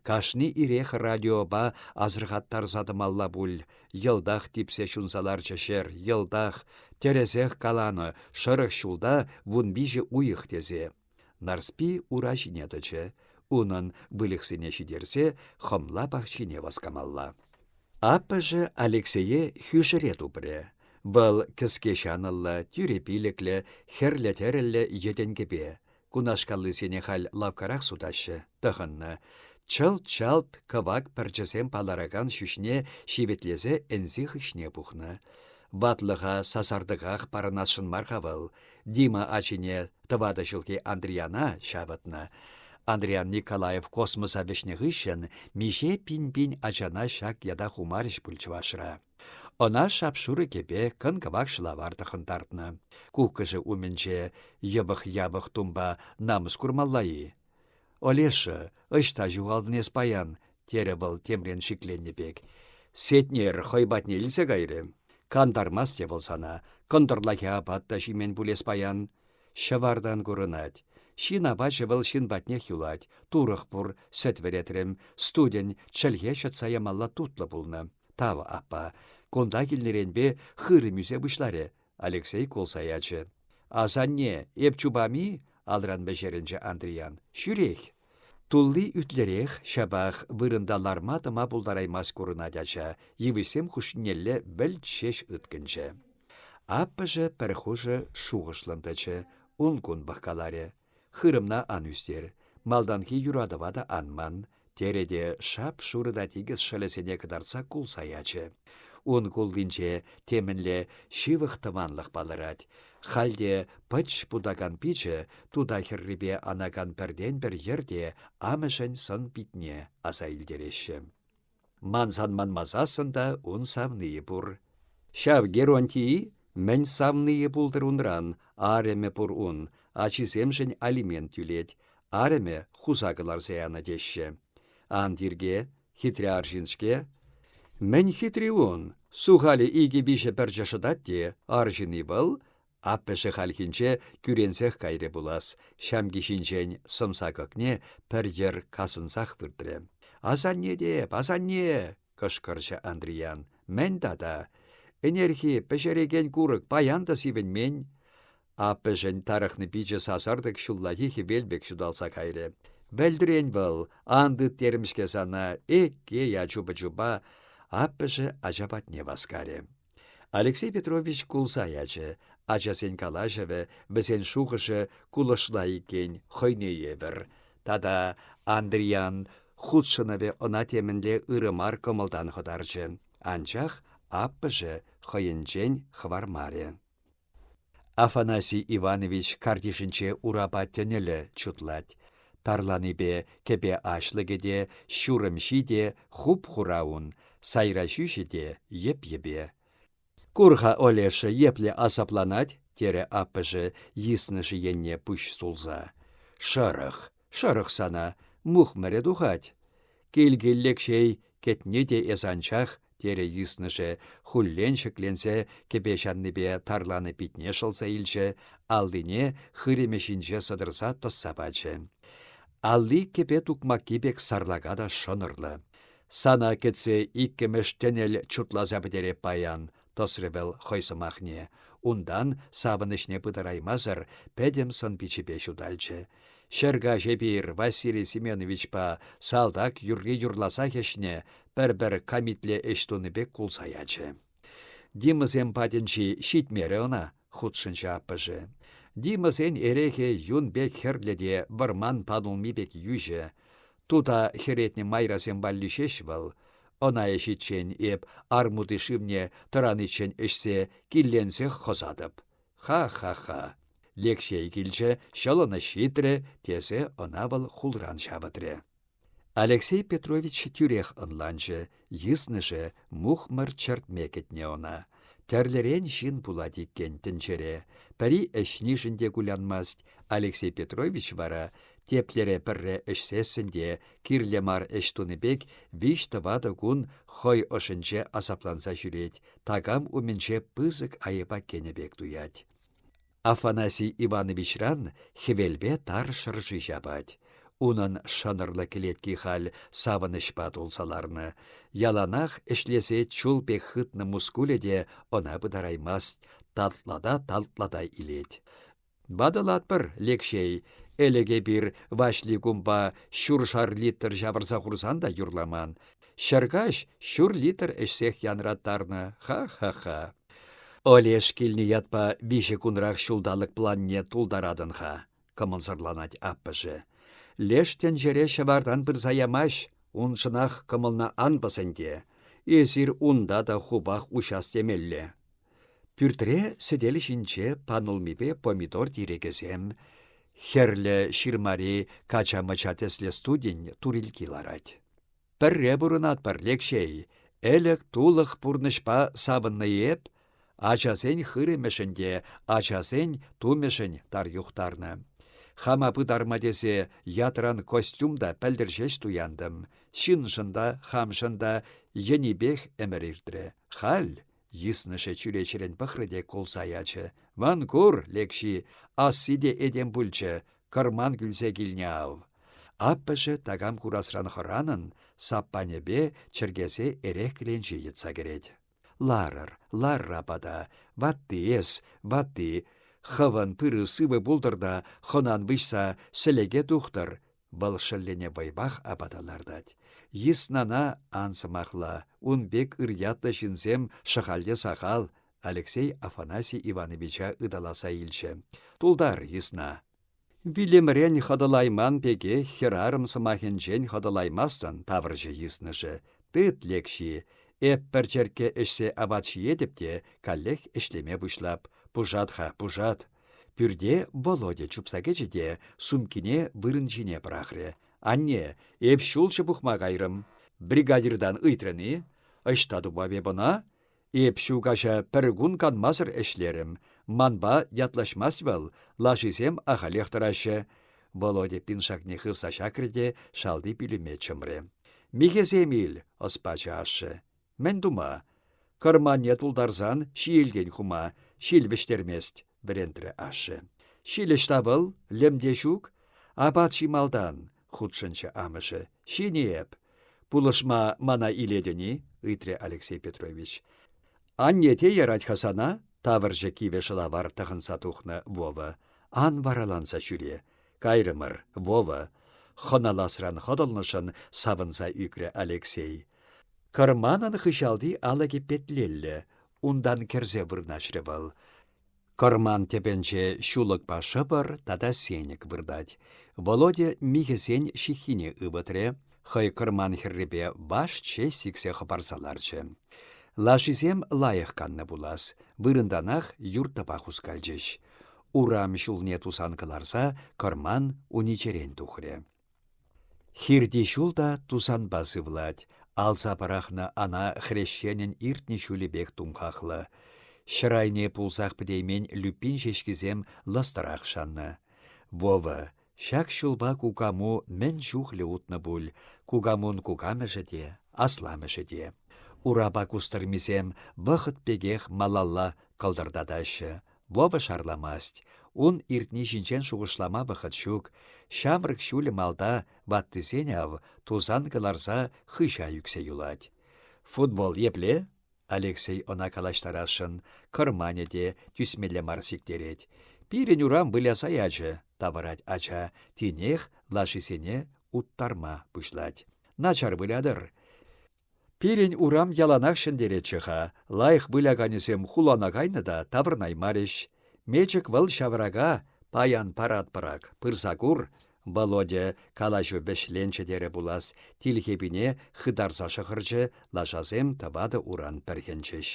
Кашни ирех радиопа асӑрхаттарса тӑмалла пуль, Йӑлтах типсе ҫунса ларчӗ ҫӗр, йӑлтах, тӗрӗсех каланӑ, шӑрӑх ҫулта вун виҫӗ уйӑх тесе. Нарспи ура ҫине тӑчӗ. Унӑн, выльӑхсене ҫитерсе, хӑмла пахчине васкамалла. Аппӑшӗ Алексее хӳшӗре тупрӗ. Вӑл кӗске ҫанӑллӑ, тӳрӗ пилӗклӗ, хӗрлӗ-тӗрӗллӗ йӗтӗнкӗпе. Кунашкаллисене халь лавккарах сутаҫҫӗ, тӑхӑннӑ. Чӑлт-чалт кӑвак пӗрчӗсем палӑракан ҫӳҫне ҫивӗтлесе ӗнси хыҫне пухнӑ. Ватлӑха сасартӑках парӑнасшӑн мар-ха вӑл. Дима ачине тӑватӑ ҫулхи Андрияна ҫавӑтнӑ. Андриян Николаев космоса вӗҫнӗ хыҫҫӑн миҫе пин-пин ачана ҫак ята хумарӗҫ пуль чӑвашра. Ӑна шап-шурӑ кӗпе, кӑн-кӑвак шӑлавар тӑхӑнтартнӑ. Куккӑшӗ умӗнче йӑпӑх-япӑх тумпа намӑс курмалла-и? «Олеша, ӑҫта ҫухалтӑн эс паян?» – терӗ вӑл темрен шикленнӗ пек. «Сетнер хӑй патне илсе кайрӗ. Кантармасть те вӑл сана, кӑнтӑрлахи апат та ҫимен пуль эс паян. Ҫӑвартан курӑнать. Ҫын апачӗ вӑл ҫын патнех юлать. Турӑх пур, сӗт вӗретрӗм. Студен чӗлхе ҫӑтса ямалла тутлӑ пулнӑ. Тав, аппа. Кунта килнӗренпе хырӑм ӳсе пуҫларӗ. Алексей кулса ячӗ. «Асанне, эп чупам-и?» — алран вӗҫерӗнчӗ Андриян. «Ҫӳрех!» Тулли ӳтлӗрех, ҫапах вырӑнта ларма тӑма пултараймасть курӑнать ача, йывӑҫсем хушшинелле вӗлт ҫеҫ ыткӑнчӗ. Аппӑшӗ пӗр хушӑ шухӑшлӑн тӑчӗ, ун-кун пӑхкаларӗ. Хырӑмна ан ӳстер, малтанхи юратӑва та ан ман, терӗ те шап-шурӑ та тикӗс шӑлӗсене кӑтартса кулса ячӗ. Ун куллинче темӗнле ҫывӑх тӑванлӑх палӑрать. Хальте пӑч путакан пичӗ тута хӗррипе анакан пӗртен-пӗр йӗрте амӑшӗн сӑн-питне аса илтереҫҫӗ. Мансан манмасассӑн та ун савнийӗ пур. Ҫав Геронтий мӗн савнийӗ пултӑр унран, арӑмӗ пур ун, ачисемшӗн алимент тӳлет, арӑмӗ хуса кӑларса янӑ теҫҫӗ. Ан тирке, хитре арҫын-ҫке. Мӗн хитри ун? Сухалӗ икӗ-виҫӗ пӗрчӗ шӑтать те, арҫын-и вӑл? Аппӑшӗ хальхинче кӳренсех кайрӗ пулас, ҫамки ҫинчен сӑмса кӑкне пӗр йӗр касӑнсах выртрӗ. «Асанне те, асанне!» — кӑшкӑрчӗ Андриян. «Мӗн тата? Ӗнерхи пӗҫерекен курӑк паян та сивӗнмен!» Аппӑшӗн тарӑхнӑ пичӗ сасартӑк ҫуллахи хӗвел пек ҫуталса кайрӗ. «Вӗлтрен вӑл, ан тыт терӗм-ҫке сана, экке я чупа-чупа!» Аппӑшӗ ача патне васкарӗ. Алексей Петрович кулса ячӗ. Ачасен калаҫӑвӗ, вӗсен шухӑшӗ кулӑшла иккен, хӑйне евӗр. Тата Андриян хутшӑнӑвӗ ӑна темӗнле ырӑ мар кӑмӑлтан хӑтарчӗ. Анчах аппӑшӗ хӑйӗнчен хӑвармарӗ. Афанасий Иванович картишӗнче урапа тӗнӗлӗ чутлать. Тарланипе кӗпе аҫлӑкӗ те, ҫурӑмҫи те хуп-хура ун, сайра ҫӳҫӗ те йӗп-йӗпе. «Кур-ха, Олеша, епле асапланать!» терӗ аппӑшӗ, йыснӑшӗ енне пуҫ сулса. «Шӑрӑх!» Шӑрӑх сана, мухмӑрӗ тухать. Килкил Лекҫей кӗтни те эс анчах, терӗ йыснӑшӗ, хуллен ҫӗкленсе кӗпе ҫаннипе тарланӑ питне шӑлса илчӗ, аллине хырӑмӗ ҫинче сӑтӑрса тӑсса пачӗ. Алли кӗпе тукмакки пек сарлака та шӑнӑрлӑ. Сана кӗтсе иккӗмӗш тӗнӗл чутласа пӗтереп паян, тӑсрӗ вӑл хӑй сӑмахне. Унтан, савӑнӑҫне пытараймасӑр, пӗтӗм сӑн-пичӗпе ҫуталчӗ. Ҫӗр каҫ эпир Василий Семеновичпа салтак юрри юрласах ӗҫне пӗр-пӗр камитле ӗҫ тунӑ пек кулса ячӗ. Димӑсем патӗнчи ҫитмерӗ ӑна. хутшӑнчӗ аппӑшӗ. Димӑсен эрехӗ юн пек хӗрлӗ те вӑрман панулми пек йӳҫӗ. Тута хӗретнӗ майрасем валли ҫеҫ вӑл. Ӑна ӗҫиччен эп армути шывне тӑраниччен ӗҫсе, килленсех хӑсатӑп. Ха-ха-ха. Лекҫей килчӗ, ҫӑлӑнӑҫ ҫитрӗ, тесе ӑна вӑл хулран ҫавӑтрӗ. Алексей Петрович тӳрех ӑнланчӗ, йыснӑшӗ мухмӑр чӗртме кӗтнӗ ӑна. Тӗрлӗрен ҫын пулать иккен тӗнчере. Пӗри ӗҫнишӗн те кулянмасть, Алексей Петрович вара теплере пӗрре ӗҫсессӗн те кирлӗ мар ӗҫ тунӑ пек виҫ-тӑватӑ кун хӑй ӑшӗнче асапланса ҫӳрет, такам умӗнче пысӑк айӑпа кӗнӗ пек туять. Афанасий Ивановичран хӗвелпе тар шӑрши ҫапать. Унӑн шӑнӑрлӑ кӗлетки халь савӑнӑҫпа тулса ларнӑ. Яланах ӗҫлесе чул пек хытнӑ мускулӗ те ӑна пытараймасть, татлата-татлата илет. «Ватӑлатпӑр, Лекҫей, ӗлӗк эпир Ваҫли кумпа ҫуршар литр ҫавӑрса хурсан та юрламан. Ҫӗркаҫ ҫур литр ӗҫсех янраттарнӑ. Ха-ха-ха. Олеш килнӗ ятпа виҫӗ кунрах ҫулталӑк планне тултаратӑн-ха, кӑмӑлсӑрланать аппӑшӗ. Леш тӗнчере ҫӑвартан пырса ямасть, уншӑнах кӑмӑлна ан пӑс ӗнтӗ. Эсир унта та хупах уҫас темелле. Пӳртре сӗтел ҫинче панулмипе помидор тирекӗсем, хӗрлӗ ҫырмари кача-мӑча тӗслӗ студень турилки ларать. Пӗрре пурӑнатпӑр, Лекҫей, ӗлӗк-тулӑх пурнӑҫпа савӑннӑ эп, ачасен хырӑмӗшӗн те, ачасен тумӗшӗн тар юхтарнӑ. Хама пытарма тесе ятран костюм та пӗлтӗр ҫеҫ туянтӑм. Ҫыншӑн та, хамшӑн та енипех ӗмӗр иртрӗ. Халь Йыснӑшӗ чӳречерен пӑхрӗ те кулса ячӗ. «Ван кур, Лекҫи, асси те этем пулчӗ, кӑрман кӳлсе килнӗ ав!» Аппӑшӗ такам курасран хӑранӑн саппанӗпе чӗркесе эрех кӗленчи йӑтса кӗрет. «Ларӑр, ларра пата, ватти эс, ватти, хӑвӑн тырӑ-сывӑ пултӑр та хӑнан выҫса сӗлеке тухтӑр!» Вӑл шӑллӗне вӑйпах апата лартать. Йыснана ан сӑмахла, ун пек ырьятлӑ ҫынсем шӑхальте сахал, Алексей Афанасий Ивановича ыталаса илчӗ. Тултар йысна. Вилӗмрен хӑтӑлайман пекех хӗрарӑм сӑмахӗнчен хӑтӑлаймастӑн, тавӑрчӗ йыснӑшӗ. Тыт лекҫи, эп пӗр черкке ӗҫсе апат ҫиетӗп те каллех ӗҫлеме пуҫлап. Пушат-ха, пушат. Пӳрте Володя чупса кӗчӗ те сумкине вырӑн ҫине пӑрахрӗ. «Анне, эп ҫулҫӑ пухма кайрӑм». Бригадиртан ыйтрӑн-и? Ӑҫта тупап эп ӑна? Эп ҫу каҫа пӗр кун канмасӑр ӗҫлерӗм. Манпа ятлаҫмасть вӑл, лашисем ахалех тӑраҫҫӗ. Володя пиншакне хывса ҫакрӗ те шалти пӳлӗме чӑмрӗ. «Михӗсем ил!» – ӑс пачӗ ашшӗ. Мӗн тума? Кӑрманне тултарсан ҫиелтен хума, ҫил вӗҫтермест, вӗрентрӗ ашшӗ. Ҫилӗҫ та вӑл, лӗм те ҫук. Апат ҫи малтан, хутшӑнчӗ амӑшӗ. Ҫини эп. Пулӑшма мана илетӗн-и? ыйтрӗ Алексей Петрович. Анне те ярать-ха сана, тавӑрчӗ кивӗ шӑлавар тӑхӑнса тухнӑ Вова. Ан вараланса ҫӳре. Кайрӑмӑр, Вова, хӑналасран хӑтӑлнӑшӑн савӑнса ӳкрӗ Алексей. Кӑрманӑн хыҫалти алӑкӗ петлелле, унтан кӗрсе вырнаҫрӗ вӑл. Кӑрман тӗпӗнче ҫулӑкпа шӑпӑр тата сенӗк выртать. Володя михӗсен ҫыххине ывӑтрӗ, хӑй кӑрман хӗррипе ваш ҫеҫ сиксе хӑпарса ларчӗ. Лашисем лайӑх каннӑ пулас, вырӑнтанах юрттӑпа хускалчӗҫ. урам ҫулне тусан кӑларса кӑрман уничерен тухрӗ. Хирти ҫул та тусанпа сывлать, алса пӑрахнӑ ана хресченӗн иртнӗ ҫулӗ пек тумхахлӑ. Ҫӗр айне пулсах пӗтеймен Люпин ҫеҫкисем лӑстӑрах шаннӑ. Вова, Ҫак ҫулпа кукаму мӗн чухлӗ утнӑ пуль, кукамун кукамӑшӗ те, асламӑшӗ те. Урапа кустӑрмисем вӑхӑт пекех малалла кӑлтӑртатаҫҫӗ. Вова шарламасть. Ун иртни ҫинчен шухӑшлама вӑхӑт ҫук. Ҫамрӑк ҫулӗ малта ваттисен ав тусан кӑларса хыҫа ӳксе юлать. Футбол епле? Алексей ӑна калаҫтарасшӑн, кӑрманӗ те тӳсмелле мар сиктерет. «Пирӗн урам выляса ячӗ», — тавӑрать ача, тинех лашисене уттарма пуҫлать. «Начар вылятӑр. Пирӗн урам яланах ҫӗнтеретчӗ-ха, лайӑх выляканӗсем хулана кайнӑ та таврӑнаймарӗҫ. Мечӗк вӑл ҫаврака паян паратпӑрак, пырса кур, Володя калаҫу вӗҫленчӗ терӗ пулас, тилхепине хытарса шӑхӑрчӗ, лашасем тӑватӑ-уран пӗрхӗнчӗҫ.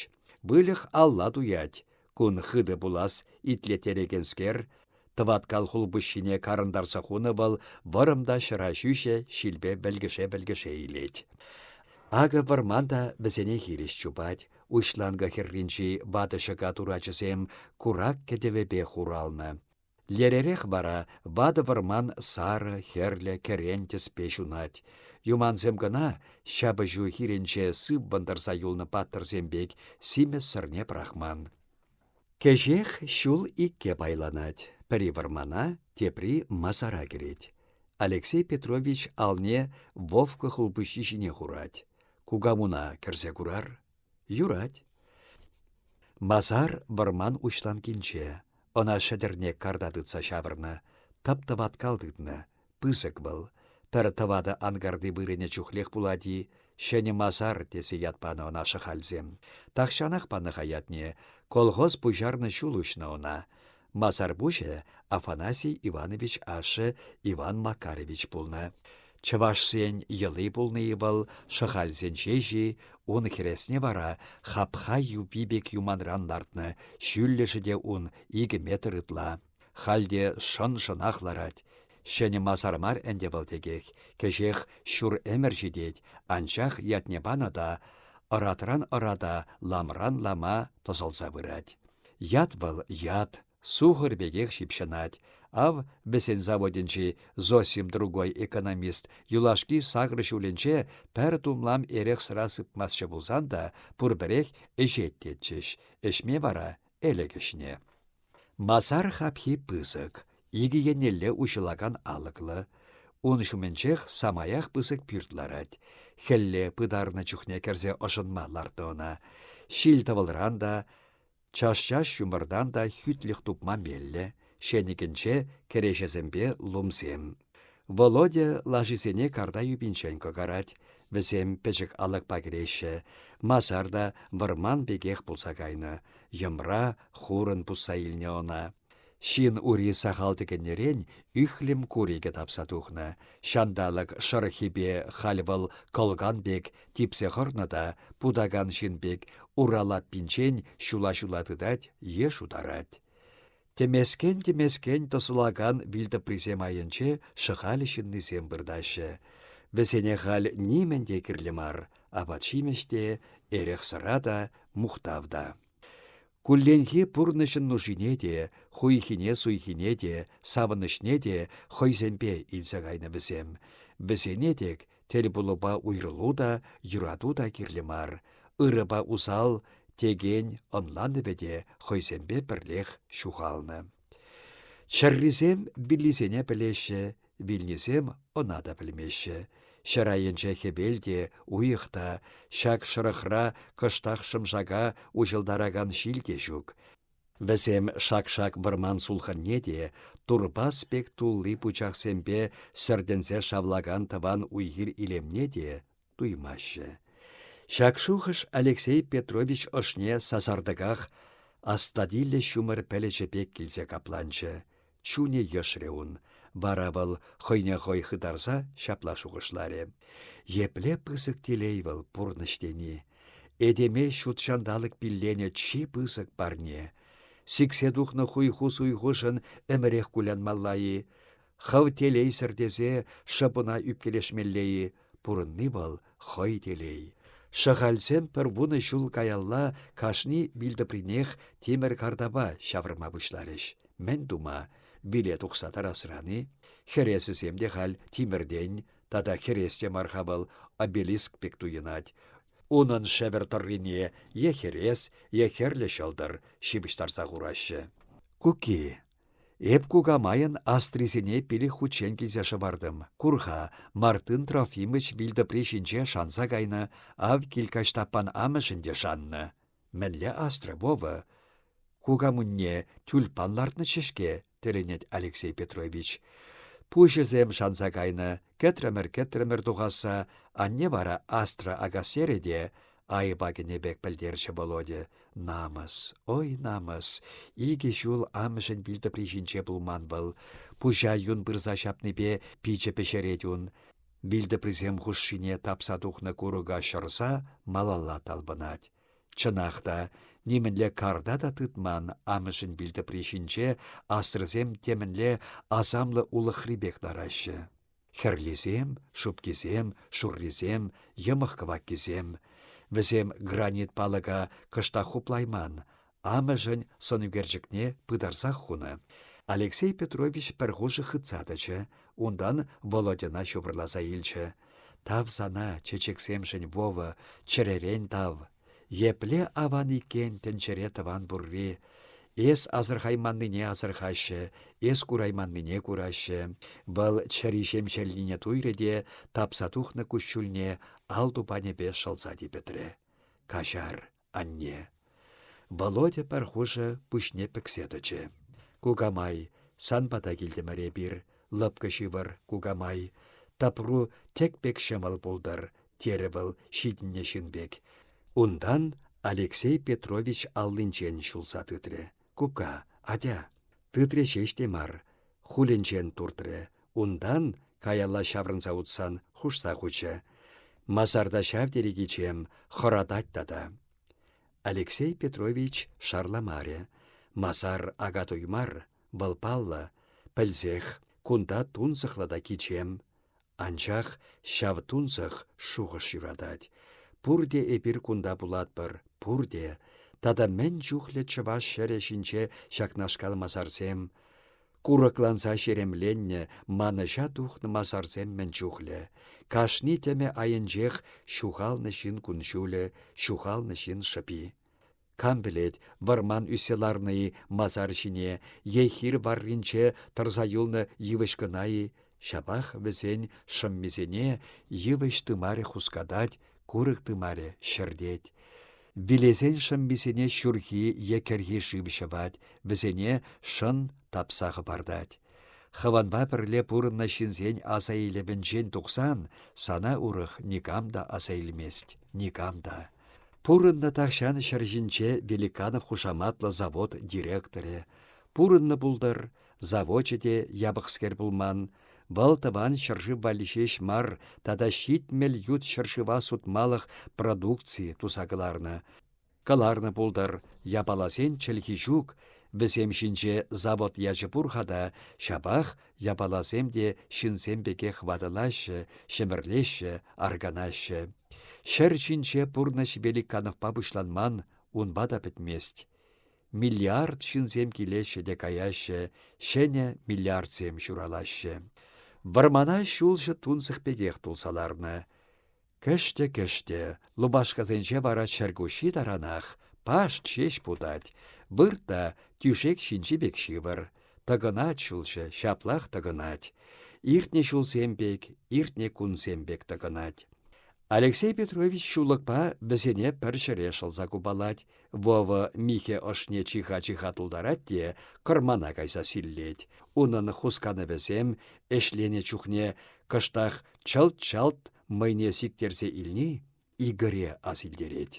Выльӑх алла туять. Кун хытӑ пулас, итлеттерекенскер. Тӑваткал хулпуҫҫине карӑнтарса хунӑ вӑл вӑрӑм та ҫӑра ҫӳҫӗ ҫилпе вӗлкӗше-вӗлкӗше илет. Акӑ вӑрман та вӗсене хирӗҫ чупать. Уҫланкӑ хӗрринчи ватӑ ҫӑка турачӗсем курак кӗтӗвӗпе хуралнӑ. Леререх вара ватӑ вӑрман сарӑ, хӗрлӗ, кӗрен тӗспе ҫунать. Юмансем кӑна ҫапӑҫу хирӗнче сыппӑн тӑрса юлнӑ паттӑрсем пек симӗс сӗрне пӑрахман. Кӗҫех ҫул икке пайланать. Пӗри вӑрмана, тепри масара кӗрет. Алексей Петрович алне Вовка хулпуҫҫи ҫине хурать. Кукамуна кӗрсе курар? Юрать. Масар вӑрман уҫланкинче. Ӑна шӗтӗрне карта тытса ҫавӑрнӑ. Тӑп-тӑваткал тытнӑ. Пысӑк вӑл. Пӗр тӑватӑ анкарти вырӑнӗ чухлех пулать-и? Ҫӗнӗ масар тесе ят панӑ ӑна шӑхальсем. Тахҫанах панӑ-ха ятне. Колхоз пуҫарнӑ ҫул уҫнӑ ӑна. Масар пуҫӗ Афанасий Иванович ашшӗ Иван Макарович пулнӑ. Чӑвашсен йӑли пулнӑ-и вӑл, шӑхальсен ҫеҫи, ун хӗресне вара хапха юпи пек юманран лартнӑ, ҫӳллӗшӗ те ун икӗ метр ытла. Халь те шӑн-шӑнах ларать. Ҫӗнӗ масар мар ӗнтӗ вӑл текех. Кӗҫех ҫур ӗмӗр ҫитет, анчах ятне панӑ та ӑратран ӑрата, ламран лама тӑсӑлса пырать. Ят вӑл ят, сухӑр пекех ҫыпҫӑнать. Ав, вӗсен заводӗнчи Зосим другой экономист юлашки сакӑр ҫулӗнче пӗр тумлам эрех-сӑра сыпмастчӗ пулсан та, пурпӗрех ӗҫет тетчӗҫ. Ӗҫме вара ӗлӗк ӗҫне. Масар хапхи пысӑк, икӗ еннелле уҫӑлакан алӑклӑ. Ун ҫумӗнчех самаях пысӑк пӳрт ларать. Хӗлле пытарнӑ чухне кӗрсе ӑшӑнма лартнӑ ӑна. Ҫил-тӑвӑлран та, час-час ҫумӑртан та хӳтлӗх тупма меллӗ. Ҫенӗкӗнче кӗреҫесемпе лумсем. Володя лашисене карта юпинчен кӑкарать. Вӗсем пӗчӗк алӑкпа кӗреҫҫӗ. Масар та вӑрман пекех пулса кайнӑ. Йӑмра хурӑн пусса илнӗ ӑна. Ҫын ури сахал тӗкӗннӗрен ӳхлӗм курӑкӗ тапса тухнӑ. Ҫанталӑк шӑрӑххипе халь вӑл кӑлкан пек типсе хӑрнӑ та путакан ҫын пек ура лаппинчен ҫула-ҫула тытать е шутарать. Тӗмескен-тӗмескен тӑсӑлакан вилтӑприсем айӗнче шӑхаль ҫыннисем выртаҫҫӗ. Вӗсене халь нимӗн те кирлӗ мар, апат-ҫимӗҫ те, эрех-сӑра та, мухтав та. Кулленхи пурнӑҫӑн нушине те, хуйхине-суйхине те, савӑнӑҫне те хӑйсемпе илсе кайнӑ вӗсем. Вӗсене тек тӗлпулупа уйрӑлу та, юрату та кирлӗ мар. Ырӑпа усал текен ӑнланӑвӗ те хӑйсемпе пӗрлех ҫухалнӑ. Чӗррисем виллисене пӗлеҫҫӗ, вилнисем ӑна та пӗлмеҫҫӗ. Ҫӗр айӗнче хӗвел те, уйӑх та, ҫак шӑрӑхра кӑштах шӑмшака уҫӑлтаракан ҫил те ҫук. Вӗсем шак-шак вӑрман сулхӑнне те, турпас пек тулли пучахсемпе сӗртӗнсе шавлакан тӑван уй-хир илемне те туймаҫҫӗ. Ҫак шухӑш Алексей Петрович ӑшне сасартӑках астатиллӗ ҫумӑр пӗлӗчӗ пек килсе капланчӗ. Чунӗ йӑшрӗ ун. Вара вӑл хӑйне хӑй хытарса ҫапла шухӑшларӗ. Епле пысӑк телей вӑл пурнӑҫ тени. Этеме ҫут ҫанталӑк пилленӗ чи пысӑк парне. Сиксе тухнӑ хуйху-суйхушӑн ӗмӗрех кулянмалла-и? Хӑв телейсӗр тесе шӑпӑна ӳпкелешмелле-и? Пурӑнни вӑл хӑй телей. Шӑхальсем пӗр вунӑ ҫул каялла кашни вилтӑпринех тимӗр картапа ҫавӑрма пуҫларӗҫ. Мӗн тума? Виле тухса тарасран-и? Хӗресӗсем те халь тимӗртен, тата хӗрес те мар-ха вӑл, обелиск пек туйӑнать. Унӑн шӗвӗр тӑррине е хӗрес, е хӗрлӗ ҫӑлтӑр ҫыпӑҫтарса хураҫҫӗ. Куки Эп кукамайӑн астрисене пилӗк хутчен килсе шӑвартӑм. Кур-ха, Мартын Трофимович вилтӑпри ҫинче шанса кайнӑ, ав килкаҫ Стаппан амӑшӗн те шаннӑ. Мӗнле астра, Вова? Кукамунне тюльпан лартнӑччӗ-ҫке, тӗлӗнет Алексей Петрович. Пуҫӗсем шанса кайнӑ, кӗтрӗмӗр-кӗтрӗмӗр тухасса, анне вара Астра Акасьерӗ те, Айӑпа кӗнӗ пек пӗлтерчӗ Володя. Намӑс, ой, намӑс. Икӗ ҫул амӑшӗн вилтӑпри ҫинче пулман вӑл. Пуҫа юн пырса ҫапнипе пичӗ пӗҫерет ун. Вилтӑприсем хушшине тапса тухнӑ курӑка ҫӑрса малалла талпӑнать. Чӑнах та, нимӗнле карта та тытман амӑшӗн вилтӑпри ҫинче асрӑсем темӗнле асамлӑ улӑхри пек лараҫҫӗ. Хӗрлисем, шупкисем, шуррисем, йӑмӑх-кӑваккисем. Вӗсем гранит палӑка кӑштах хуплайман, амӑшӗн сӑнӳкерчӗкне пытарсах хунӑ. Алексей Петрович пӗр хушӑ хытса тӑчӗ, унтан Володьӑна ҫупӑрласа илчӗ. «Тав сана, чечексемшӗн Вова, чӗререн тав!» Епле аван иккен тӗнчере тӑван пурри. Эс асӑрхайманнине асӑрхаҫҫӗ, эс курайманнине кураҫҫӗ. Вӑл чӗри ҫемҫелнине туйрӗ те тапса тухнӑ куҫҫульне ал тупанӗпе шӑлса типӗтрӗ. Каҫар, анне. Володя пӗр хушӑ пуҫне пӗксе тӑчӗ. Кукамай, сан пата килтӗмӗр эпир. Лӑпкӑ ҫывӑр, кукамай. Тӑпру тек пек ҫӑмӑл пултӑр, терӗ вӑл ҫитӗннӗ ҫын пек. Унтан Алексей Петрович аллинчен ҫулса тытрӗ. Кука, атя! Тытрӗ ҫеҫ те мар, хулӗнчен туртрӗ. Унтан, каялла ҫаврӑнса утсан, хушса хучӗ. Масарта ҫав тери кичем, хӑратать тата. Алексей Петрович шарламарӗ. Масар ака туй мар, Вӑл паллӑ, пӗлсех, кунта тунсӑхлӑ та кичем. Анчах ҫав тунсӑх шухӑш ҫуратать. Пурте эпир кунта пулатпӑр, пурте. Тата мӗн чухлӗ чӑваш ҫӗрӗ ҫинче ҫакнашкал масарсем. Курӑкланса ҫеремленнӗ, манӑҫа тухнӑ масарсем мӗн чухлӗ. Кашни тӗмӗ айӗнчех ҫухалнӑ ҫын кун-ҫулӗ, ҫухалнӑ ҫын шӑпи. Кам пӗлет, вӑрман ӳссе ларнӑ-и масар ҫине е хир варринче тӑрса юлнӑ йывӑҫ кӑна-и, ҫапах вӗсен шӑммисене йывӑҫ тымарӗ хускатать, курӑк тымарӗ ҫӗртет. Вилесен шӑммисене ҫурхи е кӗрхи шыв ҫӑвать, вӗсене шӑн тапса хӑпартать. Хӑвӑнпа пӗрле пурӑннӑ ҫынсен аса илӗвӗнчен тухсан сана урӑх никам та аса илмест, никам та. Пурӑннӑ тахҫан ҫӗр ҫинче Великанов хушаматлӑ завод директорӗ. Пурӑннӑ пултӑр, завочӗ те япӑхскер пулман. Вӑл тӑван ҫӗршыв валли ҫеҫ мар тата ҫитмӗл ют ҫӗршыва сутмалӑх продукци туса кӑларнӑ. Кӑларнӑ пултӑр, япаласен чӗлхи ҫук, вӗсем ҫинче завод ячӗ пур-ха та, ҫапах Япаласем те ҫынсем пекех ватӑлаҫҫӗ, ҫӗмӗрлеҫҫӗ, арканаҫҫӗ. Ҫӗр ҫинче пурнӑҫ великанӑвпа пуҫланман, унпа та пӗтмест. Миллиард ҫынсем килеҫҫӗ те каяҫҫӗ, ҫӗнӗ миллиардсем ҫуралаҫҫӗ. Вӑрмана ҫулҫӑ тунсӑх пекех тулса ларнӑ. Кӗштӗ-кӗштӗ, лупашкасенче вара чӗркуҫҫи таранах, пашт ҫеҫ путать. Вырт тӳшек ҫинчи пек ҫывӑр. Тӑкӑнать ҫулҫӑ, ҫаплах тӑкӑнать. Иртнӗ ҫулсем пек, иртнӗ кунсем пек тӑкӑнать. Алексей Петрович ҫулӑкпа вӗсене пӗр ҫӗре шӑлса купалать. Вова михӗ ӑшне чиха-чиха тултарать те кӑрмана кайса силлет. Унӑн хусканӑвӗсем, ӗҫленӗ чухне кӑштах чӑлт-чалт мӑйне сиктерсе илни Игоре асилтерет.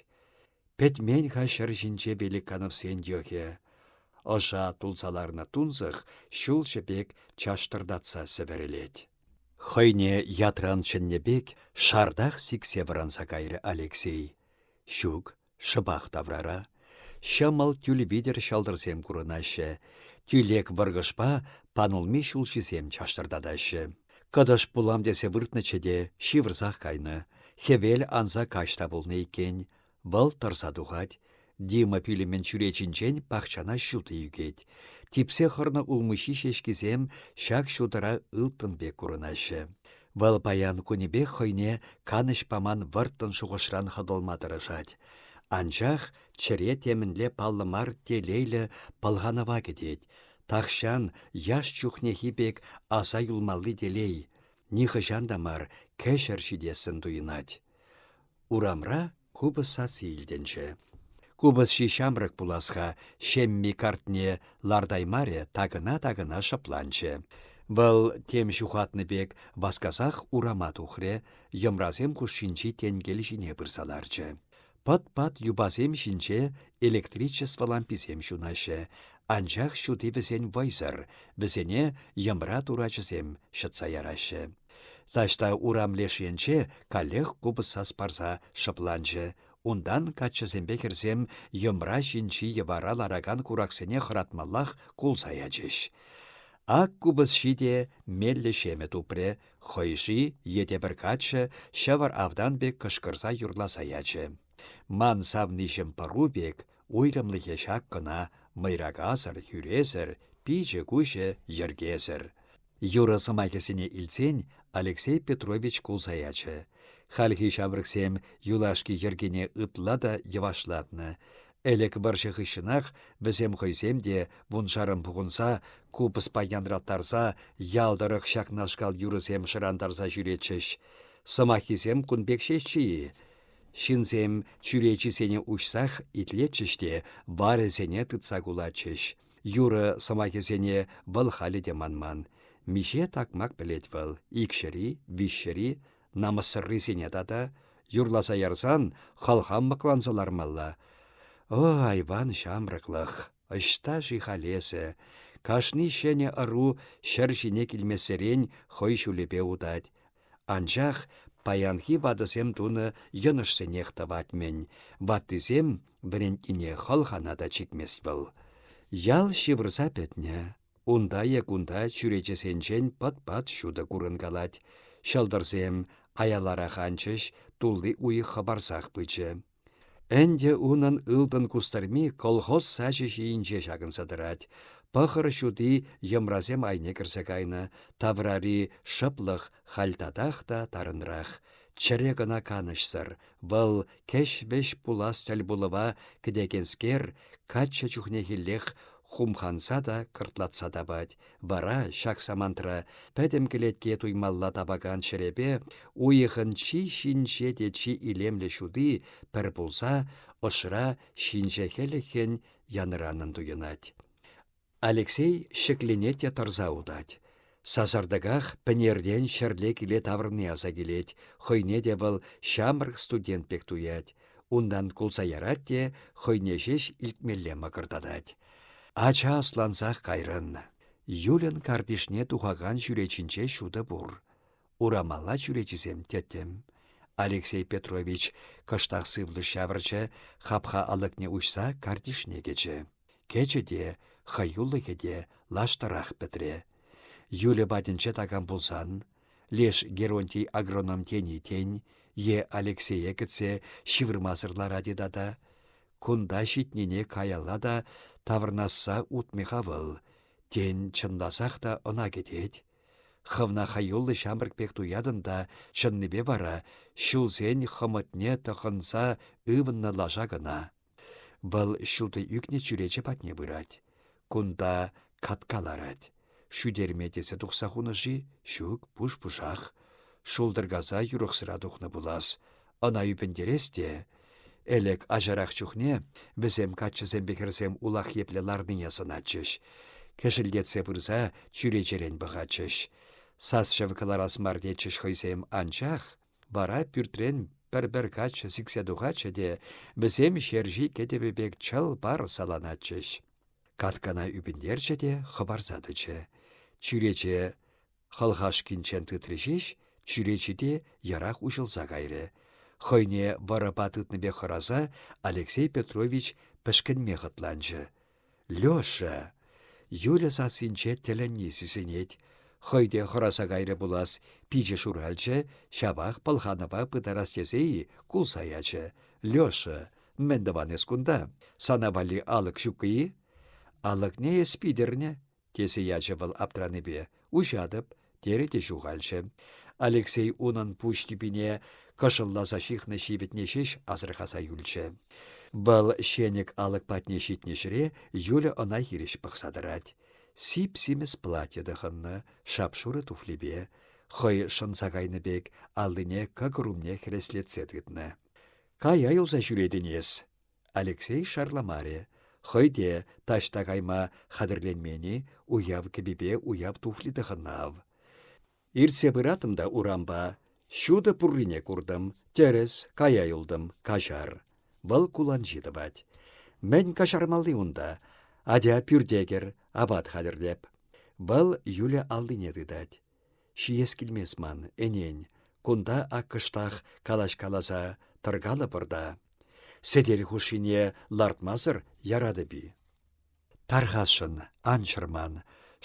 Пӗтмен-ха ҫӗр ҫинче Великановсен йӑхӗ. Ӑша тулса ларнӑ тунсӑх ҫул шӗпек чаштӑртатса сӗвӗрӗлет. Хӑйне ятран чӗннӗ пек шартах сиксе вӑранса кайрӗ Алексей. Ҫук, Шӑпах таврара ҫӑмӑл тӳл витӗр ҫӑлтӑрсем курӑнаҫҫӗ, тӳлек вӑркӑшпа панулми ҫулҫисем чаштӑртатаҫҫӗ. Кӑтӑш пулам тесе выртнӑччӗ те ҫывӑрсах кайнӑ. Хӗвел анса каҫ та пулнӑ иккен. Вӑл тӑрса тухать. Дима пӳлӗмӗн чӳречинчен пахчана ҫутӑ ӳкет. Типсе хӑрнӑ улмуҫҫи ҫеҫкисем ҫак ҫутӑра ылтӑн пек курӑнаҫҫӗ. Вӑл паян кунӗпех хӑйне канӑҫ паман вӑрттӑн шухӑшран хӑтӑлма тӑрӑшать. Анчах чӗре темӗнле паллӑ мар телейлӗ пӑлханӑва кӗтет. Тахҫан яш чухнехи пек аса юлмалли телей нихӑҫан та мар кӗҫӗр ҫитессӗн туйӑнать. Урамра Купӑс сасси илтӗнчӗ. Купӑсҫи ҫамрӑк пулас-ха, ҫемми картне лартаймарӗ, такӑна-такӑна шӑпланчӗ. Вӑл тем ҫухатнӑ пек васкасах урама тухрӗ, йӑмрасем хушшинчи тенкел ҫине пырса ларчӗ. Пӑт-пат юпасем ҫинче электричество ламписем ҫунаҫҫӗ, анчах ҫути вӗсен вӑйсӑр, вӗсене йӑмра турачӗсем ҫӑтса яраҫҫӗ. Таҫта урам леш енче каллех купӑс сас парса шӑпланчӗ. Унтан каччӑсемпе хӗрсем йӑмра ҫинчи йӑвара ларакан кураксене хӑратмаллах кулса ячӗҫ. Ак купӑсҫи те меллӗ ҫемӗ тупрӗ, хӑйши е те пӗр каччӑ ҫӑвӑр автан пек кӑшкӑрса юрласа ячӗ. Ман савниҫӗм пӑру пек, уйрӑмлӑхӗ ҫак кӑна, мӑйракасӑр, хӳресӗр, пичӗ-куҫӗ йӗркесӗр. Юрӑ сӑмахӗсене илтсен Алексей Петрович кулса ячӗ. Хальхи ҫамрӑксем юлашки йӗркене ытла та йӑвашлатнӑ. Ӗлӗк вӑрҫӑ хыҫҫӑнах вӗсем хӑйсем те, вуншарӑн пухӑнса, купӑспа янраттарса, ял тӑрӑх ҫакнашкал юрӑсем шӑрантарса ҫӳретчӗҫ. Сӑмаххисем кун пек ҫеҫчӗ-и? Ҫынсем чӳречисене уҫсах итлетчӗҫ те варӗсене тытса кулатчӗҫ. Юрӑ сӑмахӗсене вӑл халӗ те манман. Миҫе такмак пӗлет вӑл, икҫӗри, виҫҫӗри, намӑссӑррисене тата. Юрласа ярсан хӑлхам мӑкланса лармалла. О, айван ҫамрӑклӑх, ӑҫта-ши халь эсӗ? Кашни ҫӗнӗ ӑру ҫӗр ҫине килмессерен хӑй ҫулӗпе утать. Анчах паянхи ватӑсем тунӑ йӑнӑшсенех тӑвать-мӗн. Ваттисем вӗрентнине хӑлхана та чикмест вӑл. Ял ҫывӑрса пӗтнӗ. Унта е кунта чӳречесенчен пӑт-пат ҫутӑ курӑнкалать. Ҫӑлтӑрсем аяларах анчӗҫ, тулли уйӑх хӑпарсах пычӗ. Ӗнтӗ унӑн ылтӑн кустӑрми колхоз сачӗ ҫийӗнче ҫакӑнса тӑрать. Пӑхӑр ҫути йӑмрасем айне кӗрсе кайнӑ, таврари шӑплӑх халь татах та тарӑнрах. Чӗре кӑна канӑҫсӑр, вӑл кӗҫ-вӗҫ пулас тӗл пулӑва кӗтекенскер, каччӑ чухнехиллех Хумханса та, кӑртлатса тапать. Вара ҫак самантра пӗтӗм кӗлетке туймалла тапакан ҫӗрепе уйӑхӑн чи ҫинҫе те чи илемлӗ ҫути пӗр пулса ӑшра ҫинҫе хӗлӗхӗн янӑранӑн туйӑнать. Алексей ҫӗкленет те тӑрса утать. Сасартӑках Пӗнертен ҫӗрле киле таврӑнни аса килет, хӑйне те вӑл ҫамрӑк студент пек туять. Унтан кулса ярать те хӑйне ҫеҫ илтмелле мӑкӑртатать. Ача ӑслансах кайрӑн. Юльӑн картишне тухакан чӳречинче ҫутӑ пур. Урамалла чӳречисем тӗттӗм. Алексей Петрович кӑштах сывлӑш ҫавӑрчӗ, хапха алӑкне уҫса картишне кӗчӗ. Кӗчӗ те, хӑюлӑхӗ те лаштӑрах пӗтрӗ. Юлӗ патӗнче такам пулсан, леш Геронтий агроном тени тен, е Алексее кӗтсе ҫывӑрмасӑр ларать-и тата? Кунта ҫитнине каялла та таврӑнасса утмӗ-ха вӑл. Тен, чӑнласах та ӑна кӗтет? Хӑвна хӑюллӑ ҫамрӑк пек туятӑн та чӑннипе вара ҫулсен хӑмӑтне тӑхӑнса ывӑннӑ лаша кӑна. Вӑл ҫутӑ ӳкнӗ чӳрече патне пырать. Кунта катка ларать. Шӳтерме тесе тухса хунӑ-ши? Ҫук, пуш-пушах. Шултӑркаса юрӑхсӑра тухнӑ пулас. Ӑна ӳпӗнтерес те, Элек ачарах чухне вӗсем каччӑсемпе хӗрсем улах епле ларнине сӑнатчӗҫ. Кӗшӗлтетсе пырса чӳречерен пӑхатчӗҫ. Сас-чӗв кӑларас мар тетчӗҫ хӑйсем, анчах вара пӳртрен пӗр-пӗр каччӑ сиксе тухатчӗ те вӗсем ҫерҫи кӗтӗвӗ пек чӑл пар саланатчӗҫ. Каткана ӳпӗнтерчӗ те хӑпарса тӑчӗ. Чӳрече Хӑлхашкинчен тытрӗ ҫеҫ, чӳречи те йӑрах уҫӑлса кайрӗ. Хӑйне вӑрӑпа тытнипе хӑраса Алексей Петрович пӗшкӗнме хӑтланчӗ. «Леша!» Юля сассинче тӗлӗнни сисӗнет. Хӑй те хӑраса кайрӗ пулас, пичӗ шуралчӗ, ҫапах пӑлханӑва пытарас тесе-и, кулса ячӗ. «Леша, мӗн тӑван эс кунта? Сана валли алӑк ҫуккӑ-и?» «Алӑкне эс питӗрнӗ», тесе ячӗ вӑл аптранипе. Уҫатӑп, терӗ те ҫухалчӗ. Алексей унӑн пуҫ тӳпине кӑшӑлласа ҫыхнӑ ҫивӗтне ҫеҫ асӑрхаса юлчӗ. Вӑл ҫенӗк алӑк патне ҫитнӗ ҫӗре Юля ӑна хирӗҫ пӑхса тӑрать. Сип-симӗс платье тӑхӑннӑ, шап-шурӑ туфлипе, хӑй шӑнса кайнӑ пек, аллине кӑкӑр умне хӗреслетсе тытнӑ. «Кая юлса ҫӳретӗн эс!» Алексей шарламарӗ. Хӑй те таҫта кайма хатӗрленмен-и, уяв кӗпипе уяв туфли тӑхӑннӑ ав. Иртсе пыратӑм та урампа. Ҫутӑ пуррине куртӑм. Тӗрӗс, кая юлтӑм, каҫар. Вӑл куланҫи тӑвать. Мӗн каҫармалли унта? Атя пӳрте кӗр, апат хатӗрлеп. Вӑл Юля аллине тытать. Ҫиес килмест ман, ӗнен. Кунта ак кӑштах калаҫ-каласа тӑркалӑпӑр та. Сӗтел хушшине лартмасӑр яратӑп-и? Тархасшӑн, ан чӑрман.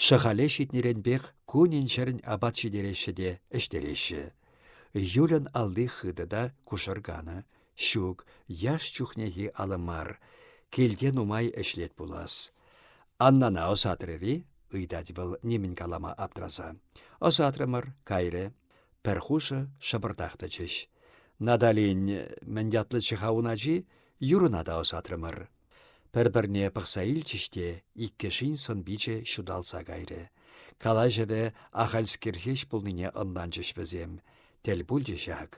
Шӑхале ҫитнӗренпех кунӗн-ҫӗрӗн апат ҫитереҫҫӗ те ӗҫтереҫҫӗ. Юльӑн алли хытӑ та кушӑрканӑ. Ҫук, яш чухнехи алӑ мар. Килте нумай ӗҫлет пулас. Аннана ӑсатрӑр-и? ыйтать вӑл нимӗн калама аптраса. Ӑсатрӑмӑр, кайрӗ. Пӗр хушӑ шӑпӑртах тӑчӗҫ. Наталин, мӗн ятлӑччӗ-ха ун ачи? Юрӑна та ӑсатрӑмӑр. Пӗр-пӗрне пӑхса илчӗҫ те иккӗшин сӑн-пичӗ ҫуталса кайрӗ. Калаҫӑвӗ ахальскер ҫеҫ пулнине ӑнланчӗҫ вӗсем. Тӗл пулчӗ ҫак.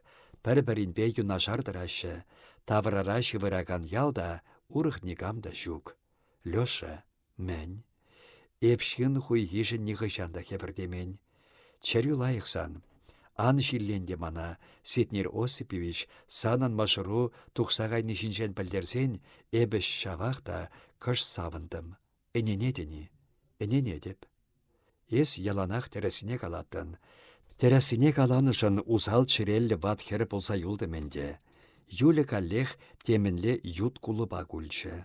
Пӗр-пӗринпе юнашар тӑраҫҫӗ. Таврара ҫывӑракан ял та, урӑх никам та ҫук. Леша Мӗн? Эп ҫын хуйхишӗн нихӑҫан та хӗпӗртемен. Чӗрӳ лайӑх сан. Ан ҫилленте мана, Сетнер Осипович, санӑн мӑшӑру тухса кайни ҫинчен пӗлтерсен, эпӗ ҫавах та кӑш савӑнтӑм. Ӗненетӗн-и? Ӗненетӗп. Эс яланах тӗрӗсне калаттӑн. Тӗрӗссине каланӑшӑн усал чӗреллӗ ват хӗр пулса юлтӑм ӗнтӗ. Юля каллех темӗнле ют кулӑпа кулчӗ.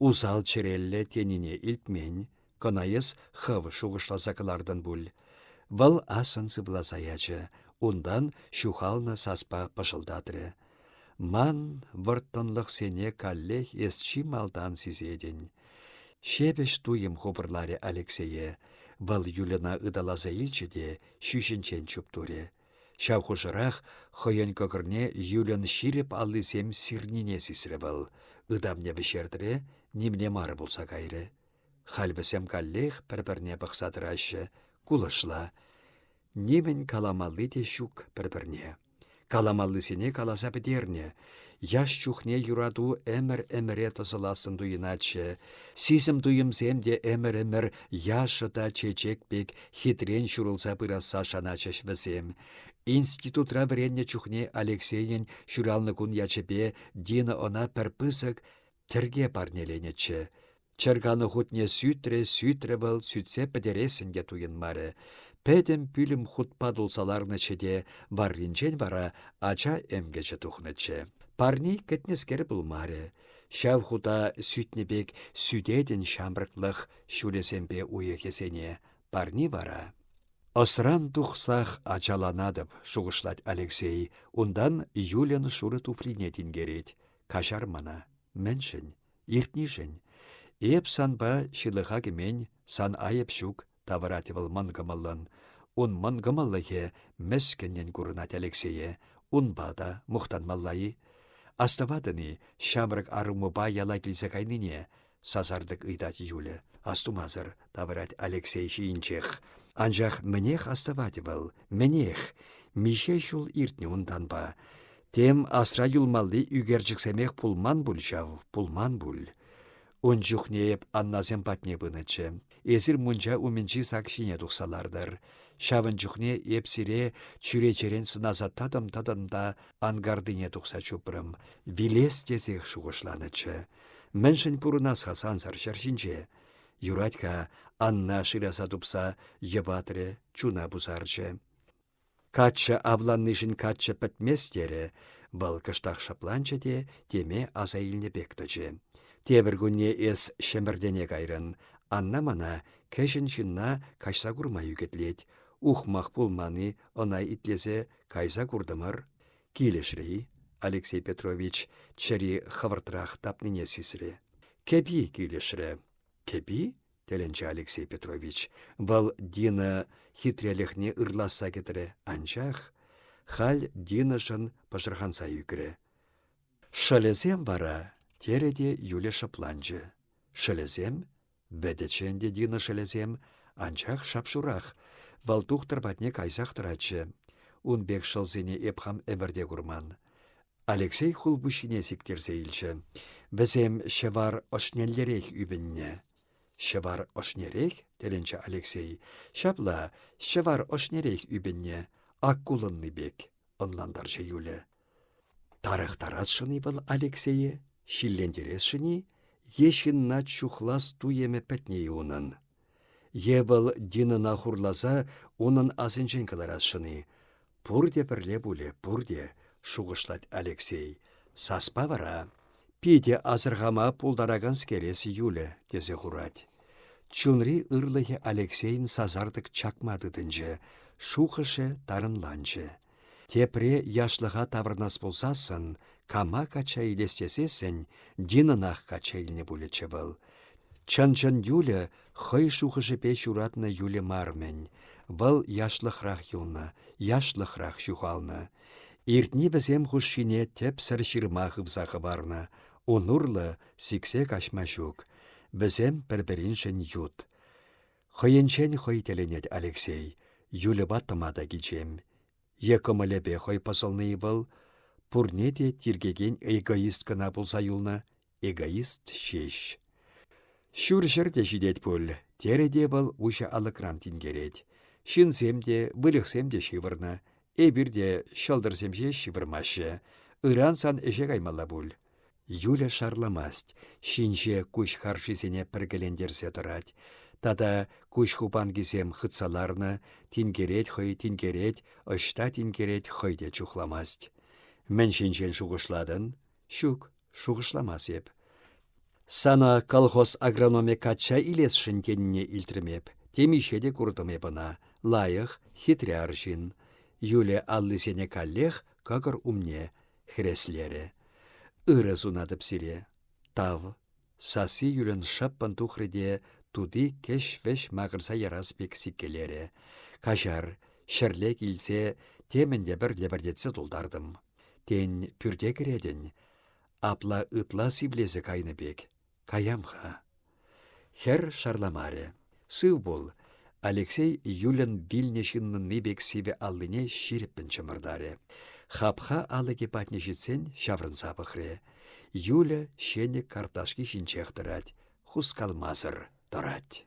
Усал чӗреллӗ тенине илтмен. Кӑна эс хӑв шухӑшласа кӑлартӑн пуль. Вӑл ассӑн сывласа ячӗ, унтан ҫухалнӑ саспа пӑшӑлтатрӗ. Ман вӑрттӑнлӑхсене каллех эс чи малтан сисетӗн. Ҫепӗҫ туйӑм хупӑрларӗ Алексее. Вӑл Юльӑна ыталаса илчӗ те ҫӳҫӗнчен чуптурӗ. Ҫав хушӑрах хӑйӗн кӑкӑрне Юльӑн ҫирӗп аллисем сирнине сисрӗ вӑл. Ытамне вӗҫертрӗ, нимне мар пулса кайрӗ. Халь вӗсем каллех пӗр-пӗрне пӑхса тӑраҫҫӗ. Кулӑшла. Нимӗн каламалли те ҫук пӗр-пӗрне. Каламаллисене каласа пӗтернӗ. Яш чухне юрату ӗмӗр-ӗмӗре тӑсӑлассӑн туйӑнатчӗ. Сисӗм туйӑмсем те ӗмӗр-ӗмӗр яшӑ та чечек пек хитрен ҫурӑлса пырасса шаначчӗҫ вӗсем. Институтра вӗреннӗ чухне Алексейӗн ҫуралнӑ кун ячӗпе Дина ӑна пӗр пысӑк Тӗрке парнеленӗччӗ. Чӗрканӑ хутне сӳтрӗ-сӳтрӗ вӑл, сӳтсе пӗтерессӗн те туйӑнмарӗ. Пӗтӗм пӳлӗм хутпа тулса ларнӑччӗ те варринчен вара ача ӗмкӗчӗ тухнӑччӗ. Парне кӗтнӗскер пулмарӗ. Ҫав хута сӳтнӗ пек сӳтетӗн ҫамрӑклӑх ҫулӗсемпе уйӑхӗсене. Парни вара Ӑсран тухсах ачаланатӑп, шухӑшлать Алексей, унтан Юльӑн шурӑ туфлине тинкерет. Каҫар мана. Мӗншӗн? Иртнишӗн. Эп санпа ҫылӑха кӗмен, сан айӑп ҫук, тавӑрать вӑл мӑнкӑмӑллӑн. Ун мӑнкӑмӑллӑхӗ мӗскӗннӗн курӑнать Алексее. Унпа та мухтанмалла-и? Астӑватӑн-и ҫамрӑк арӑмупа яла килсе кайнине? Сасартӑк ыйтать Юля. Астумасӑр, тавӑрать Алексей ҫийӗнчех. Анчах мӗнех астӑвать вӑл, мӗнех? Миҫе ҫул иртнӗ унтанпа? Тем асра юлмалли ӳкерчӗксемех пулман пуль ҫав, пулман пуль. Ун чухне эп Аннасем патне пынӑччӗ. Эсир мунча умӗнчи сак ҫине тухса лартӑр. Ҫавӑн чухне эп сире чӳречерен сӑнаса татӑм-татӑм та ангардине тухса чупрӑм. Вилес тесех шухӑшланӑччӗ. Мӗншӗн пурӑнас-ха сансӑр ҫӗр ҫинче? Юрать-ха, Анна шыраса тупса йӑпатрӗ, чуна пусарчӗ. Каччӑ авланнишӗн каччӑ пӗтмест терӗ. Вӑл кӑштах шӑпланчӗ те теме аса илнӗ пек тӑчӗ. Тепӗр кунне эс Ҫӗмӗртене кайрӑн. Анна мана кӗҫӗн ҫынна каҫса курма ӳкӗтлет. Ухмах пулман-и ӑна итлесе, кайса куртӑмӑр. Килӗшрӗ-и? Алексей Петрович чӗри хӑвӑртрах тапнине сисрӗ. Кӗпи килӗшрӗ. Кӗпи? тӗлӗнчӗ Алексей Петрович. Вӑл Дина хитрелӗхне ырласса кӗтрӗ, анчах халь Динӑшӑн пӑшӑрханса ӳкрӗ. Шӑлӗсем вара, терӗ те Юля шӑпланчӗ. Шӑлӗсем Вӗтӗччӗ ӗнтӗ Дина шӑлӗсем, анчах шап-шурах. Вӑл тухтӑр патне кайсах тӑратчӗ. Ун пек шӑлсене эп хам ӗмӗрте курман. Алексей хулпуҫҫине сиктерсе илчӗ. Вӗсем ҫӑвар ӑшнеллерех ӳпӗннӗ. «Ҫӑвар ӑшнерех?» – тӗлӗнчӗ Алексей. «Ҫапла, ҫӑвар ӑшнерех ӳпӗннӗ, ак кулӑнни пек», – ӑнлантарчӗ Юля. Тарӑхтарасшӑн-и вӑл Алексее, ҫиллентересшӗн-и е ҫынна чухлас туйӑмӗ пӗтнӗ-и унӑн? Е вӑл Динӑна хурласа унӑн асӗнчен кӑларасшӑн-и? Пурте пӗрле пулӗ, пурте, шухӑшлать Алексей. Саспа вара питӗ асӑрхама пултараканскере сиюлӗ, тесе хурать. Чунри ырлӑхӗ Алексейӗн сасартӑк чакма тытӑнчӗ, шухӑшӗ тарӑнланчӗ. Тепре яшлӑха таврӑнас пулсассӑн, кама качча илес тесессӗн, Динӑнах качча илнӗ пулӗччӗ вӑл. Чӑн-чӑн Юля хӑй шухӑшӗпе ҫуратнӑ Юля мар-мӗн. Вӑл яшлӑхрах юлнӑ, яшлӑхрах ҫухалнӑ. Иртни вӗсем хушшине тӗпсӗр ҫырма хывса хӑварнӑ. Ун урлӑ сиксе каҫма ҫук. Вӗсем пӗр-пӗриншӗн ют. Хӑйӗнчен хӑй тӗлӗнет Алексей, Юльӑпа тӑма та кичем. Е кӑмӑлӗпе хӑй пӑсӑлнӑ-и вӑл? Пурне те тиркекен эгоист кӑна пулса юлнӑ, эгоист ҫеҫ. Ҫурҫӗр те ҫитет пуль, терӗ те вӑл уҫӑ алӑкран тинкерет. Ҫынсем те, выльӑхсем те ҫывӑрнӑ. Эпир те ҫӑлтӑрсем ҫеҫ ҫывӑрмаҫҫӗ. Ыран сан ӗҫе каймалла пуль. Юля шарламасть, ҫинҫе куҫ харшисене пӗркелентерсе тӑрать. Тата куҫ хупанкисем хытса ларнӑ, тинкерет хӑй тинкерет, ӑҫта тинкерет хӑй те чухламасть. Мӗн ҫинчен шухӑшлатӑн? Ҫук, шухӑшламас эп. Сана колхоз агрономӗ качча илесшӗн тенине илтрӗм эп. Темиҫе те куртӑм эп ӑна. Лайӑх, хитре арҫын. Юля аллисене каллех кӑкӑр умне. хӗреслерӗ. Ырӑ сунатӑп сире. Тав. Сасси йӳрен шӑппӑн тухрӗ те тути кӗҫ-вӗҫ макӑрса ярас пек сиккелерӗ. Каҫар, ҫӗрле килсе темӗн лӗпӗр лӗпӗртетсе тултартӑм. Тен, пӳрте кӗретӗн? Апла ытла сивлесе кайнӑ пек. Каям-ха. Хӗр шарламарӗ. Сыв пул. Алексей Юльӑн вилнӗ ҫыннӑнни пек сивӗ аллине ҫирӗппӗн чӑмӑртарӗ. Хапха алӑкӗ патне ҫитсен ҫаврӑнса пӑхрӗ. Юля ҫенӗк карташки ҫинчех тӑрать, хускалмасӑр тӑрать.